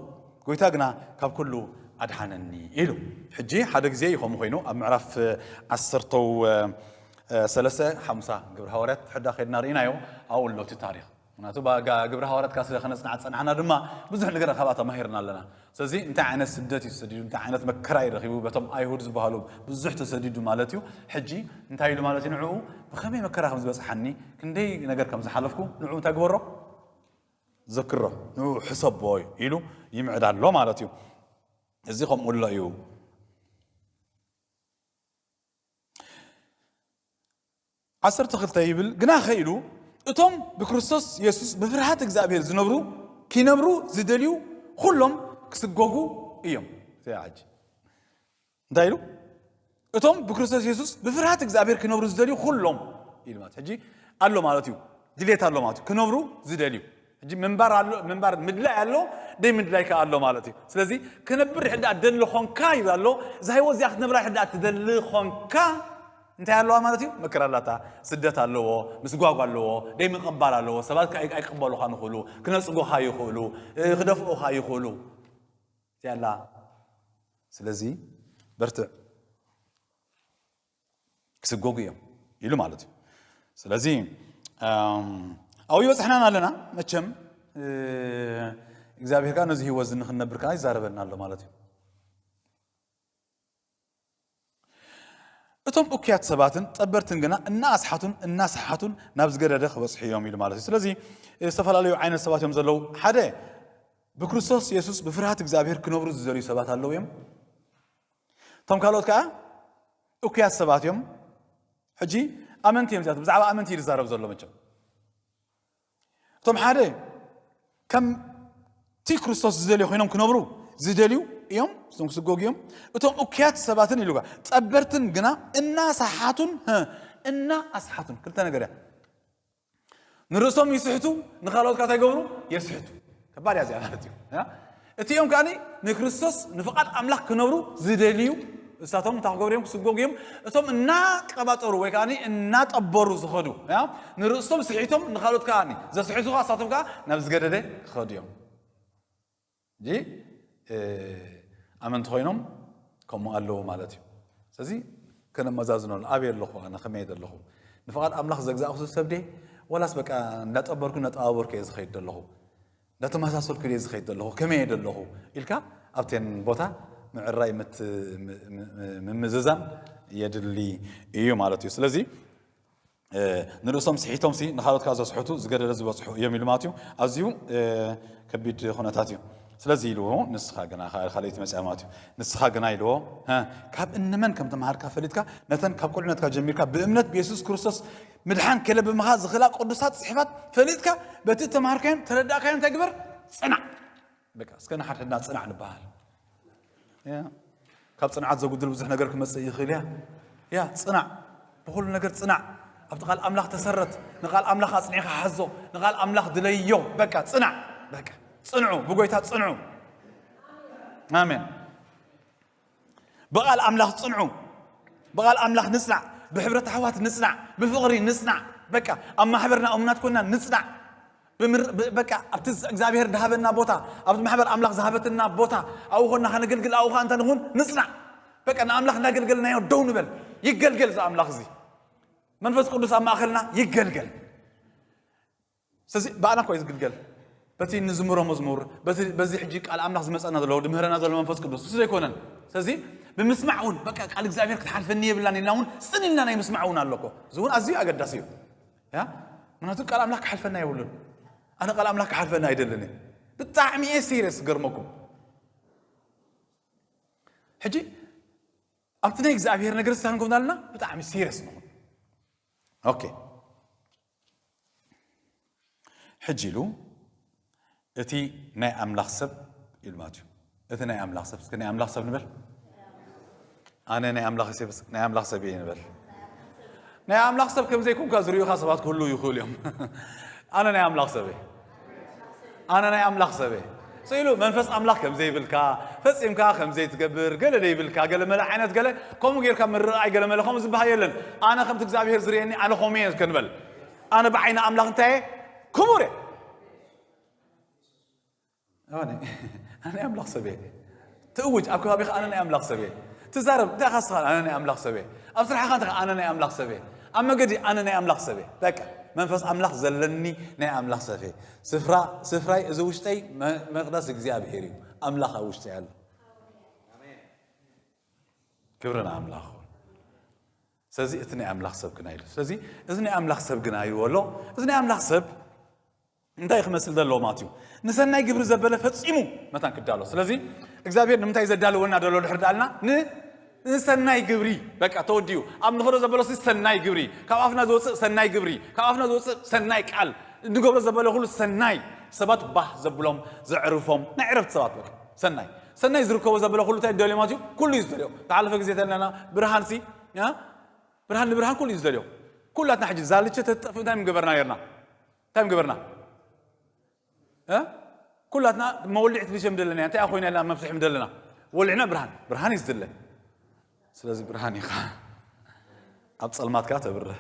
ጎይታ ግና ካብ ኩሉ ኣድሓነኒ ኢሉ ሕጂ ሓደ ግዜ እዩ ከምኡ ኮይኑ ኣብ ምዕራፍ ዓሰርተው ሰለስተ ሓሙሳ ግብሪ ሃዋርያት ሕዳ ከድና ርኢናዮ ኣብኡ ኣሎ እቲ ታሪክ ምክንያቱ ብኣጋ ግብረ ሃዋርያትካ ስለ ከነጽንዓ ዝጸናሕና ድማ ብዙሕ ነገር ካብኣ ተማሂርና ኣለና ስለዚ እንታይ ዓይነት ስደት እዩ ተሰዲዱ እንታይ ዓይነት መከራ እዩ ረኺቡ በቶም ኣይሁድ ዝበሃሉ ብዙሕ ተሰዲዱ ማለት እዩ ሕጂ እንታይ ኢሉ ማለት እዩ ንዕኡ ብኸመይ መከራ ከም ዝበጽሓኒ ክንደይ ነገር ከም ዝሓለፍኩ ንዕኡ እንታይ ግበሮ ዘክሮ ንዕኡ ሕሰቦ እዩ ኢሉ ይምዕዳ ኣሎ ማለት እዩ እዚ ከምኡ ኣሎ እዩ ዓሰርተ ክልተ ይብል ግናኸ ኢሉ እቶም ብክርስቶስ የሱስ ብፍርሃት እግዚኣብሄር ዝነብሩ ኪነብሩ ዝደልዩ ዅሎም ክስጐጉ እዮም ዘያዓጂ እንታይ ኢሉ እቶም ብክርስቶስ የሱስ ብፍርሃት እግዚኣብሄር ክነብሩ ዝደልዩ ዅሎም ኢሉ ማለት ሕጂ ኣሎ ማለት እዩ ድሌት ኣሎ ማለት እዩ ክነብሩ ዝደልዩ ሕጂ ምንባር ኣሎ ምንባር ምድላይ ኣሎ ደይ ምድላይ ከኣ ኣሎ ማለት እዩ ስለዚ ክነብር ሕዳ ደኣ ደሊ ኾንካ ይብል ኣሎ እዛ ህይወት እዚኣ ክትነብራ ሕዳ ደኣ ትደሊ ኾንካ እንታይ ኣለዋ ማለት እዩ መከራ ኣላታ ስደት ኣለዎ ምስጓጓ ኣለዎ ደይ ምቕባል ኣለዎ ሰባት ኣይቅበሉኻን ይኽእሉ ክነፅጉኻ ይኽእሉ ክደፍኡኻ ይኽእሉ እዚኣ ኣላ ስለዚ በርትዕ ክስጎጉ እዮም ኢሉ ማለት እዩ ስለዚ ኣብኡ ይበፅሕናን ኣለና መቸም እግዚኣብሔር ከዓ ነዚ ህይወት ንክንነብር ከዓ ይዛረበና ኣሎ ማለት እዩ እቶም እኩያት ሰባትን ጠበርትን ግና እናኣስሓቱን እናሰሓቱን ናብ ዝገደደ ክበፅሑ እዮም ኢሉ ማለት እዩ ስለዚ ዝተፈላለዩ ዓይነት ሰባት እዮም ዘለዉ ሓደ ብክርስቶስ የሱስ ብፍርሃት እግዚኣብሔር ክነብሩ ዝዘልዩ ሰባት ኣለዉ እዮም እቶም ካልኦት ከኣ እኩያት ሰባት እዮም ሕጂ ኣመንቲ እዮም እዚኣቶም ብዛዕባ ኣመንቲ እዩ ዝዛረብ ዘሎ መቸም እቶም ሓደ ከምቲ ክርስቶስ ዝደልዩ ኮይኖም ክነብሩ ዝደልዩ እዮም እቶም ክስጎጉ እዮም እቶም እኩያት ሰባትን ኢሉ ጸበርትን ግና እናሰሓቱን እና ኣስሓቱን ክልተ ነገር እያ ንርእሶም ይስሕቱ ንካልኦት ካታ ይገብሩ የስሕቱ ከባድ እያ እዚኣ ማለት እዩ እቲኦም ከዓኒ ንክርስቶስ ንፍቓድ ኣምላኽ ክነብሩ ዝደልዩ እሳቶም እንታይ ክገብሩ እዮም ክስጎጉ እዮም እቶም እናቀባጠሩ ወይ ከዓኒ እናጠበሩ ዝኸዱ ንርእሶም ስሒቶም ንካልኦት ከዓኒ ዘስሕቱ ከዓ እሳቶም ከዓ ናብ ዝገደደ ክኸዱ እዮም ሕጂ ኣመንቲ ኮይኖም ከምኡ ኣለዉ ማለት እዩ ስለዚ ከነመዛዝኖ ኣበይ ኣለኹ ኣነ ከመይ ዘለኹ ንፍቓድ ኣምላኽ ዘግዛእኩ ዝሰብ ዴ ዋላስ በቃ እንዳጠበርኩ እንዳጠባበርኩ እየ ዝኸይድ ዘለኹ እንዳተመሳሰልኩ እየ ዝኸይድ ዘለኹ ከመይ እየ ዘለኹ ኢልካ ኣብቴን ቦታ ምዕራይ ምምዝዛን የድሊ እዩ ማለት እዩ ስለዚ ንርእሶም ስሒቶምሲ ንካልኦት ከዓ ዘስሕቱ ዝገደደ ዝበፅሑ እዮም ኢሉ ማለት እዩ ኣዝዩ ከቢድ ኩነታት እዩ ስለዚ ኢልዎ ንስኻ ግና ካልይቲ መፅያ ማለት እዩ ንስኻ ግና ኢልዎ ካብ እንመን ከም ተምሃርካ ፈሊጥካ ነተን ካብ ቁልዕነትካ ጀሚርካ ብእምነት ብየሱስ ክርስቶስ ምድሓን ከለ ብምኻ ዝኽእላ ቅዱሳት ፅሕፋት ፈሊጥካ በቲ ተምሃርካዮን ተረዳእካዮን ተግበር ፅናዕ በቃ እስከ ንሓድሕድና ጽናዕ ንበሃል ካብ ጽንዓት ዘጉድል ብዙሕ ነገር ክመጽእ ይኽእል እያ እያ ጽናዕ ብኹሉ ነገር ጽናዕ ኣብቲ ቃል ኣምላኽ ተሰረት ንቃል ኣምላኽ ኣጽኒዕካ ሓዞ ንቃል ኣምላኽ ድለዮ በቃ ጽናዕ በቃ ጽንዑ ብጎይታ ጽንዑ ኣሜን ብቓል ኣምላኽ ጽንዑ ብቓል ኣምላኽ ንጽናዕ ብሕብረት ኣሕዋት ንጽናዕ ብፍቕሪ ንጽናዕ በቃ ኣብ ማሕበርና እሙናት ኮና ንጽናዕ በቃ ኣብቲ እግዚኣብሔር ዝሃበና ቦታ ኣብቲ ማሕበር ኣምላኽ ዝሃበትና ቦታ ኣብኡ ኮና ከነገልግል ኣብኡ ከዓ እንተ ንኹን ንጽናዕ በቃ ንኣምላኽ እናገልገልናዮ ደው ንበል ይገልገል እዚ ኣምላኽ እዚ መንፈስ ቅዱስ ኣብ ማእኸልና ይገልገል ስለዚ ብኣና እኮ እዩ ዝግልገል በቲ ንዝምሮ መዝሙር በቲ በዚ ሕጂ ቃል ኣምላኽ ዝመጸና ዘሎ ድምህረና ዘሎ መንፈስ ቅዱስ ንሱ ዘይኮነን ስለዚ ብምስማዕ እውን በቃ ቃል እግዚኣብሔር ክትሓልፈኒ የብላን ኢልና እውን ጽን ኢልና ናይ ምስማዕ እውን ኣሎ እኮ እዚ እውን ኣዝዩ ኣገዳሲ እዩ ያ ምክንያቱ ቃል ኣምላኽ ክሓልፈና የብሉን ኣነ ቃል ኣምላኽ ክሓልፈና ኣይደልን እየ ብጣዕሚ እየ ሲሪየስ ዝገርመኩም ሕጂ ኣብቲ ናይ እግዚኣብሄር ነገር ስታን ኮምና ኣለና ብጣዕሚ ሲሪየስ ንኹን ኦኬ ሕጂ ኢሉ እቲ ናይ ኣምላኽ ሰብ ኢሉ ማለት እዩ እቲ ናይ ኣምላኽ ሰብ እስከ ናይ ኣምላኽ ሰብ ንበል ኣነ ናይ ኣምላኽ ሰብ ናይ ኣምላኽ ሰብ እየ ንበል ናይ ኣምላኽ ሰብ ከም ዘይኩንካ ዝርእዩኻ ሰባት ክህልው ይኽእሉ እዮም ኣነ ናይ ኣምላኽ ሰብ እየ ኣነ ናይ ኣምላኽ ሰበ ስኢሉ መንፈስ ኣምላኽ ከም ዘይብልካ ፈጺምካ ከም ዘይትገብር ገለ ዘይብልካ ገለ መለ ዓይነት ገለ ከምኡ ጌርካ ምርኣይ ገለ መለ ከምኡ ዝበሃል የለን ኣነ ከምቲ እግዚኣብሄር ዝርእየኒ ኣነ ከምኡ እየ ክንበል ኣነ ብዓይኒ ኣምላኽ እንታይ እየ ክቡር እየ ኣነ ኣምላኽ ሰብ እየ ትእውጅ ኣብ ከባቢኻ ኣነ ናይ ኣምላኽ ሰብ እየ ትዛረብ እንታይ ኢኻ ንስኻ ኣነ ናይ ኣምላኽ ሰብ እየ ኣብ ስራሕኻ እንታይ ኣነ ናይ ኣምላኽ ሰብ እየ ኣብ መገዲ ኣነ ናይ ኣምላኽ ሰብ እየ በቃ መንፈስ ኣምላኽ ዘለኒ ናይ ኣምላኽ ሰብ እየ ስፍራ ስፍራይ እዚ ውሽጠይ መቅደስ እግዚኣብሄር እዩ ኣምላኽ ኣብ ውሽጠይ ኣሎ ክብሪ ንኣምላኽ ስለዚ እቲ ናይ ኣምላኽ ሰብ ግና ኢሉ ስለዚ እዚ ናይ ኣምላኽ ሰብ ግና ይበሎ እዚ ናይ ኣምላኽ ሰብ እንታይ እዩ ክመስል ዘለዎ ማለት እዩ? ንሰናይ ግብሪ ዘበለ ፈጺሙ መታን ክዳሎ። ስለዚ እግዚኣብሔር ንምንታይ ዘዳልወና ደሎ ድሕር ዳልና ንሰናይ ግብሪ በቃ ተወዲኡ ኣብ ንኸዶ ዘበለሲ ሰናይ ግብሪ ካብ ኣፍና ዝወፅእ ሰናይ ግብሪ ካብ ኣፍና ዝወፅእ ሰናይ ቃል ንገብሮ ዘበለ ኩሉ ሰናይ ሰባት ባህ ዘብሎም ዘዕርፎም ናይ ዕረፍቲ ሰባት በቃ ሰናይ ሰናይ ዝርከቦ ዘበለ ኩሉ እንታይ ደልዮ ማለት እዩ ኩሉ እዩ ዝደልዮ ተሓለፈ ግዜ ተለና ብርሃን ሲ ብርሃን ንብርሃን ኩሉ እዩ ዝደልዮ ኩላትና ሕጂ ዛልቸ ተጠፍ እንታይ ምገበርና ነርና እንታይ ምገበርና ኩላትና መወልዒ ትንሸ ምደለና እንታይ ኮይና ኢልና መፍትሒ ምደለና ወልዕና ብርሃን ብርሃን እዩ ዝድለ ስለዚ ብርሃን ኢኻ ኣብ ፀልማትካ ተብርህ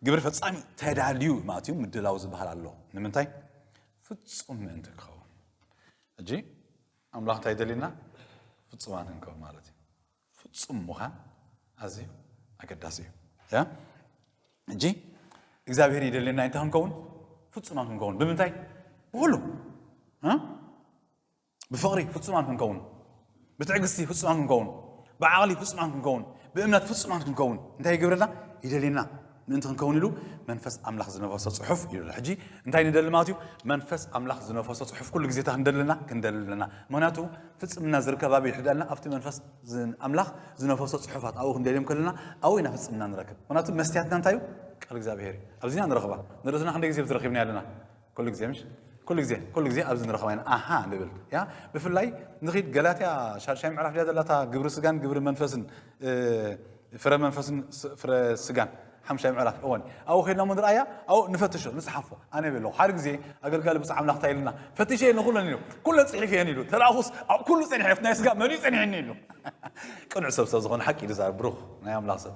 ግብሪ ፈፃሚ ተዳልዩ ማለት እዩ ምድላው ዝበሃል ኣሎ ንምንታይ ፍፁም ምእንቲ ክኸውን ሕጂ ኣምላኽ እንታይ ደልዩና ፍፁማት ንከው ማለት እዩ ፍጹም ምዃን ኣዝዩ ኣገዳሲ እዩ። ያ እጂ እግዚኣብሔር ይደልየና እንታይ ክንከውን ፍጹማን ክንከውን ብምንታይ ብኹሉ ብፍቕሪ ፍጹማን ክንከውን ብትዕግስቲ ፍጹማን ክንከውን ብዓቕሊ ፍጹማን ክንከውን ብእምነት ፍጹማን ክንከውን እንታይ ይገብረልና ይደልየና ምእንቲ ክንከውን ኢሉ መንፈስ ኣምላኽ ዝነፈሶ ጽሑፍ ኢሉ ሕጂ እንታይ ንደሊ ማለት እዩ መንፈስ ኣምላኽ ዝነፈሶ ጽሑፍ ኩሉ ግዜታ ክንደለና ክንደሊ ኣለና ምክንያቱ ፍጽምና ዝርከብ ኣበይ ሕዳልና ኣብቲ መንፈስ ኣምላኽ ዝነፈሶ ጽሑፋት ኣብኡ ክንደልዮም ከለና ኣብኡ ኢና ፍጽምና ንረክብ ምክንያቱ መስትያትና እንታይ እዩ ቃል እግዚኣብሄር እዩ ኣብዚና ንረኽባ ንርእስና ክንደይ ግዜ ዝረኪብና ኣለና ኩሉ ግዜ ምሽ ኩሉ ግዜ ኩሉ ግዜ ኣብዚ ንረኸባ ኢና ኣሃ ንብል ያ ብፍላይ ንኺድ ገላትያ ሻድሻይ ምዕራፍ ድያ ዘላታ ግብሪ ስጋን ግብሪ መንፈስን ፍረ መንፈስን ፍረ ስጋን ሓምሻይ ምዕራፍ እወን ኣብኡ ከድና ሞ ንርኣያ ኣብኡ ንፈትሾ ንፅሓፎ ኣነ ይብል ኣለኹ ሓደ ግዜ ኣገልጋሊ ብፁዕ ኣምላኽ እንታይ ኢሉና ፈትሸ ንኩለን ኢሉ ኩለን ፅሒፍ እየን ኢሉ ተላኣኹስ ኣብ ኩሉ ፀኒሐ ናይ ስጋ መን እዩ ፀኒሐኒ ኢሉ ቅኑዕ ሰብ ሰብ ዝኾነ ሓቂ ኢሉ ዛር ብሩኽ ናይ ኣምላኽ ሰብ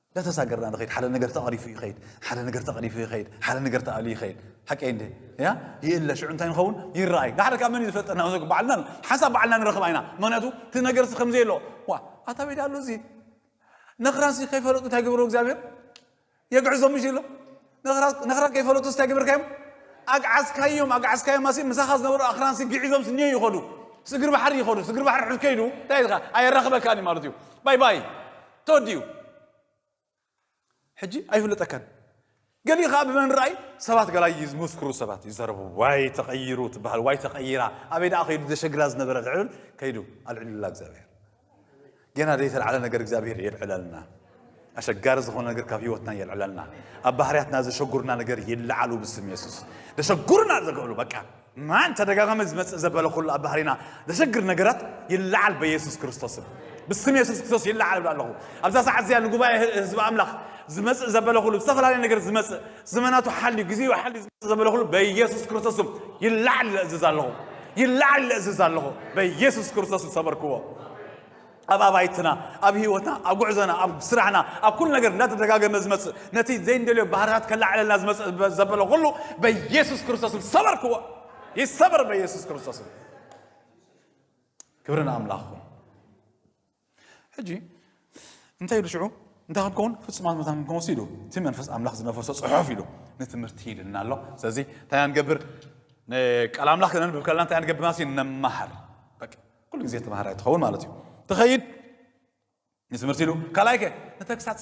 እንዳተሳገርና ንኸይድ ሓደ ነገር ተቐሪፉ ይኸይድ ሓደ ነገር ተቐሪፉ ይኸይድ ሓደ ነገር ተኣሉ ይኸይድ ሓቂ እንደ ያ ይእለ ሽዑ እንታይ ንኸውን ይረኣይ ንሓደ ካብ መን ዝፈልጠና ዘ በዓልና ሓንሳብ በዓልና ንረኽብ ኣይና ምክንያቱ እቲ ነገርሲ ከምዘይ ኣሎ ዋ ኣታ ቤዳ ኣሎ እዚ ነኽራሲ ከይፈለጡ እንታይ ግብሩ እግዚኣብሔር የግዕዞም ምሽ ኢሎ ነኽራት ነኽራት ከይፈለጡስ እንታይ ግብርካዮም ኣግዓዝካዮም ኣግዓዝካዮም ኣሲ ምሳኻ ዝነበሩ ኣኽራንሲ ግዒዞምስ እኒዮ ይኸዱ ስግር ባሕሪ ይኸዱ ስግር ባሕሪ ሕዝ ከይዱ እንታይ ኢልካ ኣየራኽበካን እዩ ማለት እዩ ባይ ባይ ተወዲኡ ሕጂ ኣይፍለጠካን ገሊኡ ከዓ ብመን ርኣይ ሰባት ገላይ ዝመስክሩ ሰባት ይዘረቡ ዋይ ተቐይሩ ትበሃል ዋይ ተቐይራ ኣበይ ደኣ ከይዱ ዘሸግራ ዝነበረ ልዕብል ከይዱ ኣልዕሉላ እግዚኣብሔር ጌና ዘይተልዓለ ነገር እግዚኣብሔር የልዕለልና። ኣሸጋሪ ዝኾነ ነገር ካብ ህይወትና የልዕለልና። ኣብ ባህርያትና ዘሸጉርና ነገር ይለዓሉ ብስም የሱስ። ዘሸጉርና ዘገብሉ በቃ ማን ተደጋጋሚ ዝመፅእ ዘበለ ኩሉ ኣብ ባህሪና ዘሸግር ነገራት ይለዓል በየሱስ ክርስቶስም ብስም የሱስ ክርስቶስ ይለዓል ብላ ኣለኹ ኣብዛ ሰዓት እዚኣ ንጉባኤ ህዝቢ ኣምላኽ ዝመፅእ ዘበለ ኩሉ ዝተፈላለየ ነገር ዝመፅእ ዘመናቱ ሓልዩ ግዜኡ ሓልዩ ዝመጽእ ዘበለኹሉ በኢየሱስ ክርስቶስም ይለዓል ኢለ እዝዝ ኣለኹ ይለዓል ኢለ እዝዝ ኣለኹ በኢየሱስ ክርስቶስ ዝሰበርክዎ ኣብ ኣባይትና ኣብ ህይወትና ኣብ ጉዕዞና ኣብ ስራሕና ኣብ ኩሉ ነገር እናተደጋገመ ዝመፅእ ነቲ ዘይንደልዮ ባህርታት ከላዕለልና ዝመፅእ ዘበለ ኩሉ በኢየሱስ ክርስቶስም ሰበርክዎ ይሰበር በኢየሱስ ክርስቶስም ክብሪ ንኣምላኽ ሕጂ እንታይ ኢሉ ሽዑ እንታይ ክንከውን ፍጹማት መታን ክንከውን ወሲ ኢሉ እቲ መንፈስ ኣምላኽ ዝነፈሶ ጽሑፍ ኢሉ ንትምህርቲ ሂድና ኣሎ ስለዚ እንታይ ንገብር ቃል ኣምላኽ ክነንብብ ከለና እንታይ ንገብር ማለት እዩ ነመሃር ኩሉ ግዜ ተምሃራይ ትኸውን ማለት እዩ ትኸይድ ንትምህርቲ ኢሉ ካልኣይ ከ ንተግሳጽ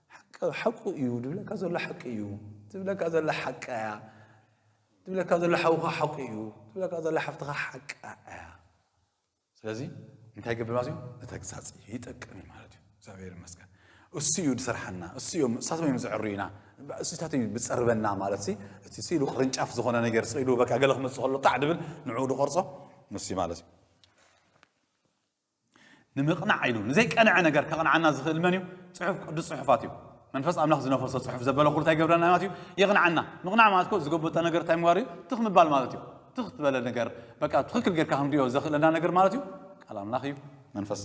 ሓቂ ሓቁ እዩ ድብለካ ዘሎ ሓቂ እዩ ድብለካ ዘሎ ሓቂ እያ ድብለካ ዘሎ ሓውካ ሓቁ እዩ ድብለካ ዘሎ ሓፍትኻ ሓቂ እያ ስለዚ እንታይ ገብር ማለት እዩ ንተግሳፅ ይጠቅም እዩ ማለት እዩ እግዚኣብሔር ይመስገን እሱ እዩ ዝሰርሓና እሱ እዮም እሳቶም እዮም ዘዕርዩና እሱታት እዩ ዝፀርበና ማለት እቲ ስኢሉ ቅርንጫፍ ዝኾነ ነገር ስኢሉ በቃ ገለ ክመፅእ ከሎ ጣዕ ድብል ንዕኡ ዝቆርፆ ንሱ ማለት እዩ ንምቕናዕ ኢሉ ንዘይቀንዐ ነገር ከቕንዓና ዝኽእል መን እዩ? ጽሑፍ ቅዱስ ጽሑፋት እዩ። መንፈስ ኣምላኽ ዝነፈሶ ጽሑፍ ዘበለ ኩሉ እንታይ ይገብረና ማለት እዩ? የቕንዓና። ምቕናዕ ማለት እኮ ዝጎበጠ ነገር እንታይ ምግባር እዩ? ትኽ ምባል ማለት እዩ። ትኽ ዝበለ ነገር በቃ ትኽክል ጌርካ ክንሪኦ ዘኽእለና ነገር ማለት እዩ ቃል ኣምላኽ እዩ። መንፈስ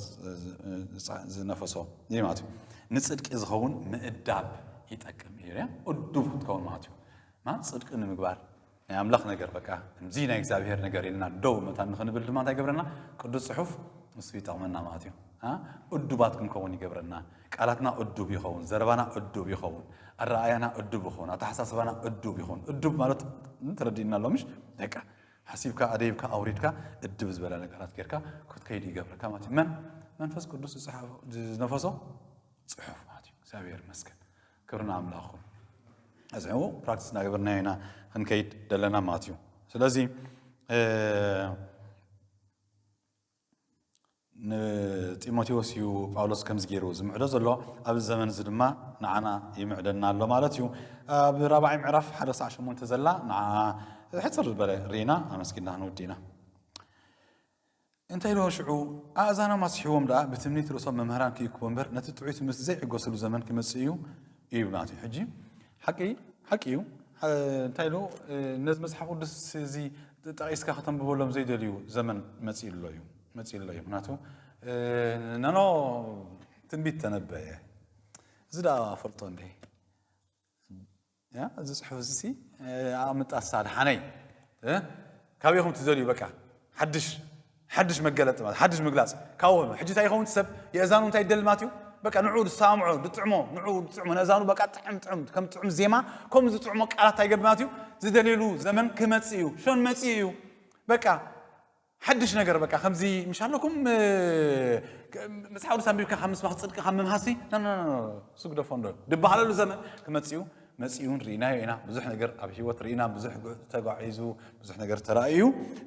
ዝነፈሶ እዩ ማለት እዩ ንፅድቂ ዝኸውን ምእዳብ ይጠቅም እዩ እዱብ ክትከውን ማለት እዩ ጽድቂ ንምግባር ናይ ኣምላኽ ነገር በቃ ከምዚ ናይ እግዚኣብሄር ነገር ኢልና ደው መታን ንኽንብል ድማ እንታይ ይገብረና ቅዱስ ጽሑፍ ንሱ ይጠቕመና ማለት እዩ እዱባት ክንከውን ይገብረና ቃላትና እዱብ ይኸውን ዘረባና እዱብ ይኸውን ኣረኣያና እዱብ ይኸውን ኣተሓሳስባና እዱብ ይኸውን እዱብ ማለት ተረዲእና ኣሎ ምሽ ደቃ ሓሲብካ ኣደይብካ ኣውሪድካ እድብ ዝበለ ነገራት ጌርካ ክትከይድ ይገብረካ ማለት እዩ መን መንፈስ ቅዱስ ዝነፈሶ ፅሑፍ ማለት እዩ እግዚኣብሔር ይመስገን ክብሪ ንኣምላኽ ኹን። እዚ ሕው ፕራክቲስ እናገበርናዮ ኢና ክንከይድ ደለና ማለት እዩ ስለዚ ንጢሞቴዎስ እዩ ጳውሎስ ከምዚ ገይሩ ዝምዕዶ ዘሎ ኣብዚ ዘመን እዚ ድማ ንዓና ይምዕደና ኣሎ ማለት እዩ ኣብ ራብዓይ ምዕራፍ ሓደ ክሳዕ ሸሞንተ ዘላ ንዓ ሕፅር ዝበለ ርኢና ኣመስጊና ክንውዲ ኢና እንታይ ደኦ ሽዑ ኣእዛኖም ኣስሒቦም ደኣ ብትምኒት ርእሶም መምህራን ክይክቦ እምበር ነቲ ጥዑይ ትምህርቲ ዘይዕገሱሉ ዘመን ክመጽእ እዩ ይብሉና እቲ ሕጂ ሓቂ ሓቂ እዩ እንታይ ዶ ነዚ መጽሓፍ ቅዱስ እዚ ጠቒስካ ከተንብበሎም ዘይደልዩ ዘመን መጽኡ ኣሎ እዩ መጽኡ ኣሎ እዩ ምክንያቱ ነኖ ትንቢት ተነበየ እዚ ደኣ ፈልጦ እንደ ያ እዚ ጽሑፍ እዚ ኣቅምጣ ሳድሓነይ ካበይ ኹም ትደልዩ በቃ ሓድሽ ሓድሽ መገለጢ ማለት ሓድሽ ምግላጽ ካብኡ ኾይኑ ሕጂ እንታይ ይኸውን ሰብ የእዛኑ እንታይ ይደሊ ማለት እዩ በቃ ንዑ ዝሰማምዖ ዝጥዕሞ ንዑ ዝጥዕሞ ነእዛኑ በቃ ጥዕም ጥዕም ከም ጥዑም ዜማ ከም ዝጥዕሞ ቃላት እንታይ ይገብር ማለት እዩ ዝደልየሉ ዘመን ክመጽእ እዩ ሾን መጽእ እዩ በቃ ሓድሽ ነገር በቃ ከምዚ ምሽ ኣለኩም መጽሓፍ ቅዱስ ኣንቢብካ ካብ ምስባኽ ጽድቂ ካብ ምምሃሲ ስግደፎ እንዶ ድበሃለሉ ዘመን ክመጽኡ መጽኡን ርኢናዮ ኢና ብዙሕ ነገር ኣብ ሂወት ርኢና ብዙሕ ተጓዒዙ ብዙሕ ነገር ተራእዩ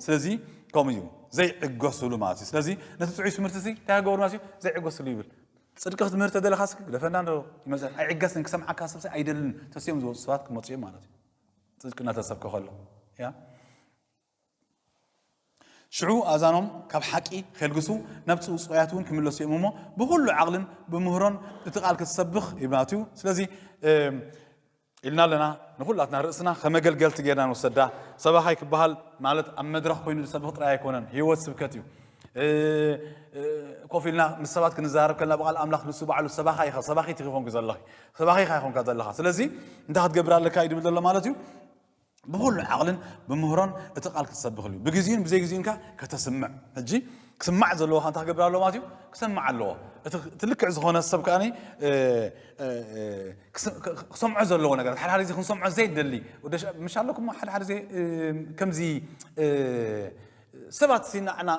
ስለዚ ከምኡ እዩ ዘይዕገሱሉ ማለት እዩ ስለዚ ነቲ ጥዑይ ትምህርቲ እዚ እንታይ ገበሩ ማለት እዩ ዘይዕገሱሉ ይብል ፅድቂ ክትምህር ተደለኻ ስክ ግደፈና ዶ ይመፅእ ኣይዕገስን ክሰምዓካ ሰብ ኣይደልን ተስዮም ዝወፁ ሰባት ክመፁ እዮም ማለት እዩ ፅድቂ እናተሰብከ ከሎ ያ ሽዑ ኣእዛኖም ካብ ሓቂ ኼልግሱ፣ ናብቲ ውጹያት እውን ኪምለሱ እዮም እሞ፣ ብዅሉ ዓቕልን ብምህሮን እቲ ቓል ክትሰብኽ ይብና ኣትዩ። ስለዚ ኢልና ኣለና ንዅላትና ርእስና ከም ኣገልገልቲ ጌርና ንወሰዳ። ሰባኻይ ክበሃል ማለት ኣብ መድረኽ ኮይኑ ዝሰብኽ ጥራይ ኣይኮነን፣ ህይወት ስብከት እዩ። ኮፍ ኢልና ምስ ሰባት ክንዛረብ ከለና ብቓል ኣምላኽ ንሱ ባዕሉ ሰባኻ ኢኻ ሰባኺት ኢኺ ኮንኪ ዘለኺ ሰባኺ ኢኻ ኢኾንካ ዘለኻ ስለዚ እንታይ ክትገብር ኣለካ እዩ ድብል ዘሎ ማለት እዩ ብኹሉ ዓቕልን ብምህሮን እቲ ቃል ክትሰብኽ እዩ ብግዜኡን ብዘይግዜኡን ከ ከተስምዕ ሕጂ ክስማዕ ዘለዎ ካንታ ክገብር ኣለዎ ማለት እዩ ክሰማዕ ኣለዎ እቲ ልክዕ ዝኾነ ሰብ ከኣ ክሰምዖ ዘለዎ ነገር ሓደ ሓደ ግዜ ክንሰምዖ ዘይደሊ ምሽ ኣለኩም ሓደ ሓደ ግዜ ከምዚ ሰባት ሲናዕና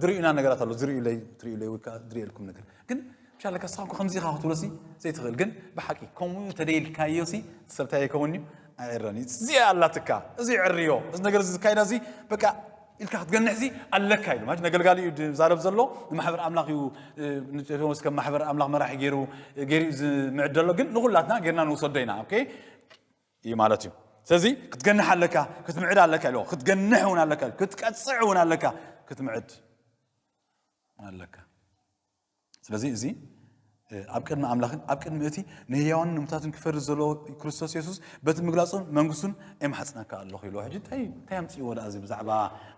ዝርእዩና ነገራት ኣሎ ዝርእዩለይ ትርእዩለይ ወይ ከዓ ዝርእየልኩም ነገር ግን ቻለ ከሳኩ ከምዚ ኢኻ ክትብሎ ሲ ዘይትኽእል ግን ብሓቂ ከምኡ ተደይልካዮ ሲ ሰብታይ ይከውን እዩ ኣይዕረን እዩ እዚኣ ኣላትካ እዚ ዕርዮ እዚ ነገር እዚ ዝካየዳ እዚ በቃ ኢልካ ክትገንሕ ሲ ኣለካ ኢሉ ማለት ነገልጋሊ እዩ ዝዛረብ ዘሎ ንማሕበር ኣምላኽ እዩ ንቴዎስ ከም ማሕበር ኣምላኽ መራሒ ገይሩ ገይሩ እዩ ዝምዕድ ዘሎ ግን ንኩላትና ጌርና ንውሰዶ ኢና ኦኬ እዩ ማለት እዩ ስለዚ ክትገንሕ ኣለካ ክትምዕድ ኣለካ ኢሉ ክትገንሕ እውን ኣለካ ክትቀፅዕ እውን ኣለካ ክትምዕድ ኣለካ ስለዚ እዚ ኣብ ቅድሚ ኣምላኽን ኣብ ቅድሚ እቲ ንህያዋንን ንምታትን ክፈርድ ዘለዎ ክርስቶስ የሱስ በቲ ምግላጹን መንግስቱን የማሕጽነካ ኣለኹ ኢልዎ ሕጂ እንታይ እንታይ ኣምጽእዎ ደኣ እዚ ብዛዕባ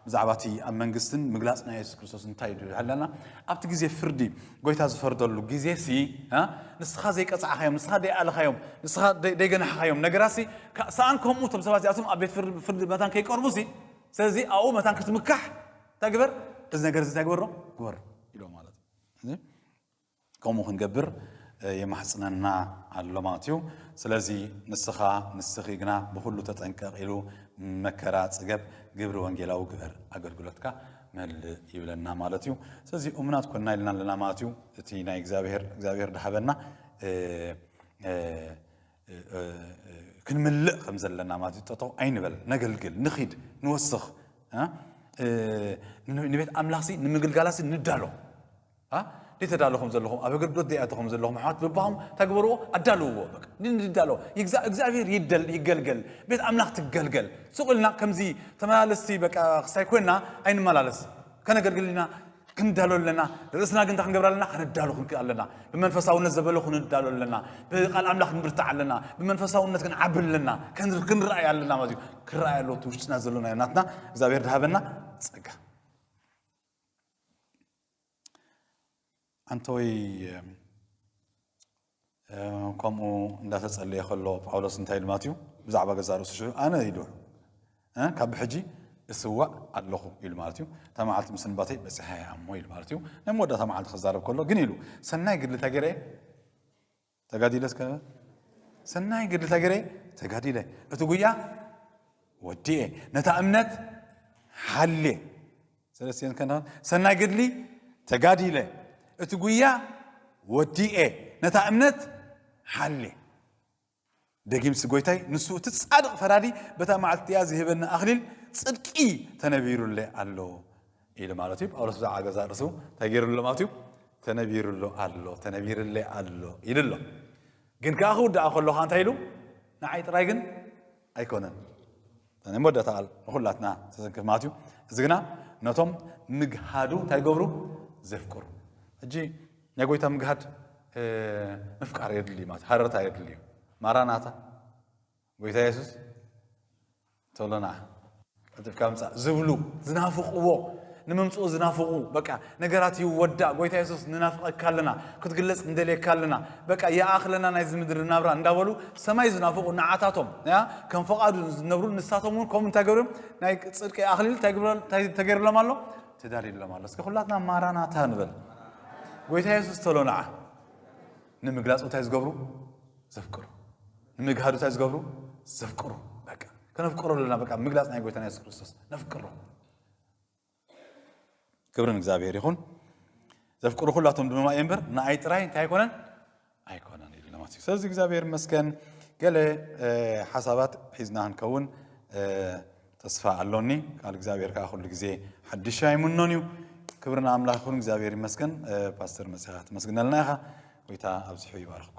ብዛዕባ እቲ ኣብ መንግስትን ምግላጽ ናይ የሱስ ክርስቶስ እንታይ ድዩ ሃለና ኣብቲ ግዜ ፍርዲ ጎይታ ዝፈርደሉ ግዜ ሲ ንስኻ ዘይቀጻዕኻዮም ንስኻ ደይኣለኻዮም ንስኻ ደይገናሕኻዮም ነገራት ሲ ሰኣን ከምኡ እቶም ሰባት እዚኣቶም ኣብ ቤት ፍርዲ መታን ከይቀርቡ ሲ ስለዚ ኣብኡ መታን ክትምካሕ እንታይ ግበር እዚ ነገር እዚ እንታይ ግበሮ ግበሮ ኢሎ ማለት እዩ ከምኡ ክንገብር የማሕፅነና ኣሎ ማለት እዩ ስለዚ ንስኻ ንስኺ ግና ብኩሉ ተጠንቀቕ ኢሉ መከራ ፅገብ ግብሪ ወንጌላዊ ግበር ኣገልግሎትካ መልእ ይብለና ማለት እዩ ስለዚ እሙናት ኮና ኢልና ኣለና ማለት እዩ እቲ ናይ እግዚኣብሔር እግዚኣብሔር ድሃበና ክንምልእ ከም ዘለና ማለት ጠጠው ኣይንበል ነገልግል ንኺድ ንወስኽ ንቤት ኣምላኽሲ ንምግልጋላሲ ንዳሎ ደይተዳሎ ከም ዘለኹም ኣብ ኣገልግሎት ደይኣቶ ከም ዘለኹም ኣሕዋት በባኹም ተግበርዎ ኣዳልውዎ ንዳሎ እግዚኣብሔር ይደል ይገልገል ቤት ኣምላኽ ትገልገል ሱቕ ኢልና ከምዚ ተመላለስቲ በቃ ክሳይ ኮይና ኣይንመላለስ ከነገልግል ኢና ክንዳሎ ኣለና። ርእስና ግን እንታይ ክንገብር ኣለና? ከነዳሉ ክንክእ ኣለና። ብመንፈሳውነት ዘበለ ክንዳሎ ኣለና። ብቃል ኣምላኽ ክንብርታዕ ኣለና። ብመንፈሳውነት ክንዓቢ ኣለና። ክንረኣይ ኣለና ማለት እዩ። ክረኣይ ኣለዎ እቲ ውሽጥና ዘሎና ናትና እግዚኣብሔር ድሃበና ጸጋ። ኣንተወይ ከምኡ እንዳተጸለየ ከሎ ጳውሎስ እንታይ ኢሉ ማለት እዩ ብዛዕባ ገዛ ርእሱ ሽዑ ኣነ ኢሉ ካብ ብሕጂ እስዋእ ኣለኹ ኢሉ ማለት እዩ እታ መዓልቲ ምስንባተይ በፂሓ እያ እሞ ኢሉ ማለት እዩ ናይ መወዳእታ መዓልቲ ክዛረብ ከሎ ግን ኢሉ ሰናይ ግድሊ እንታይ ገይረ ተጋዲለ እስከ ሰናይ ግድሊ እንታይ ገይረ ተጋዲለ እቲ ጉያ ወዲኤ ነታ እምነት ሓልየ ሰለስቴን ከንዳን ሰናይ ገድሊ ተጋዲለ እቲ ጉያ ወዲኤ ነታ እምነት ሓሌ ደጊምሲ ጎይታይ ንሱ እቲ ጻድቕ ፈራዲ በታ መዓልቲ እቲኣ ዝህበኒ ኣኽሊል ጽድቂ ተነቢሩለ ኣሎ ኢሉ ማለት እዩ ጳውሎስ ብዛዕባ ገዛ ርእሱ እንታይ ገይሩ ኣሎ ማለት እዩ ተነቢሩሎ ኣሎ ተነቢርለ ኣሎ ኢሉ ኣሎ ግን ከዓ ክውድኣ ከሎ ከዓ እንታይ ኢሉ ንዓይ ጥራይ ግን ኣይኮነን ናይ መወዳእታ ቃል ንኹላትና ዘዘንክፍ ማለት እዩ እዚ ግና ነቶም ምግሃዱ እንታይ ገብሩ ዘፍቅሩ ሕጂ ናይ ጎይታ ምግሃድ ምፍቃር የድሊ እዩ ማለት ሃረርታ የድሊ እዩ ማራናታ ጎይታ የሱስ ተሎና ቀልጢፍካ ምፃእ ዝብሉ ዝናፍቕዎ ንምምፅኡ ዝናፍቑ በቃ ነገራት ይወዳእ ጎይታ የሱስ ንናፍቀካ ኣለና ክትግለጽ ንደልየካ ኣለና በቃ ይኣክለና ናይዚ ምድሪ ናብራ እንዳበሉ ሰማይ ዝናፍቁ ንዓታቶም ያ ከም ፈቃዱ ዝነብሩ ንሳቶም እውን ከምኡ እንታይ ገብርም ናይ ጽድቂ ኣክሊል እንታይ ተገይርሎም ኣሎ ተዳልዩሎም ኣሎ እስከ ኩላትና ማራናታ ንበል ጎይታ የሱስ ተሎ ንዓ ንምግላጽ እንታይ ዝገብሩ ዘፍቅሩ ንምግሃዱ እንታይ ዝገብሩ ዘፍቅሩ በቃ ከነፍቅሮ ኣለና በቃ ምግላጽ ናይ ጎይታና የሱስ ክርስቶስ ነፍቅሮ ክብሪ ንእግዚኣብሔር ይኹን ዘፍቅሩ ኩላቶም ድማ እየ እምበር ንኣይ ጥራይ እንታይ ኣይኮነን ኣይኮነን ኢሉ ማለት እዩ ስለዚ እግዚኣብሔር መስገን ገለ ሓሳባት ሒዝና ክንከውን ተስፋ ኣሎኒ ቃል እግዚኣብሔር ከዓ ኩሉ ግዜ ሓድሽ ኣይምኖን እዩ ክብርና ኣምላኽ ይኹን እግዚኣብሔር ይመስገን ፓስተር መፅኻ ትመስግነልና ኢኻ ጎይታ ኣብዚሑ ይባርኽኩም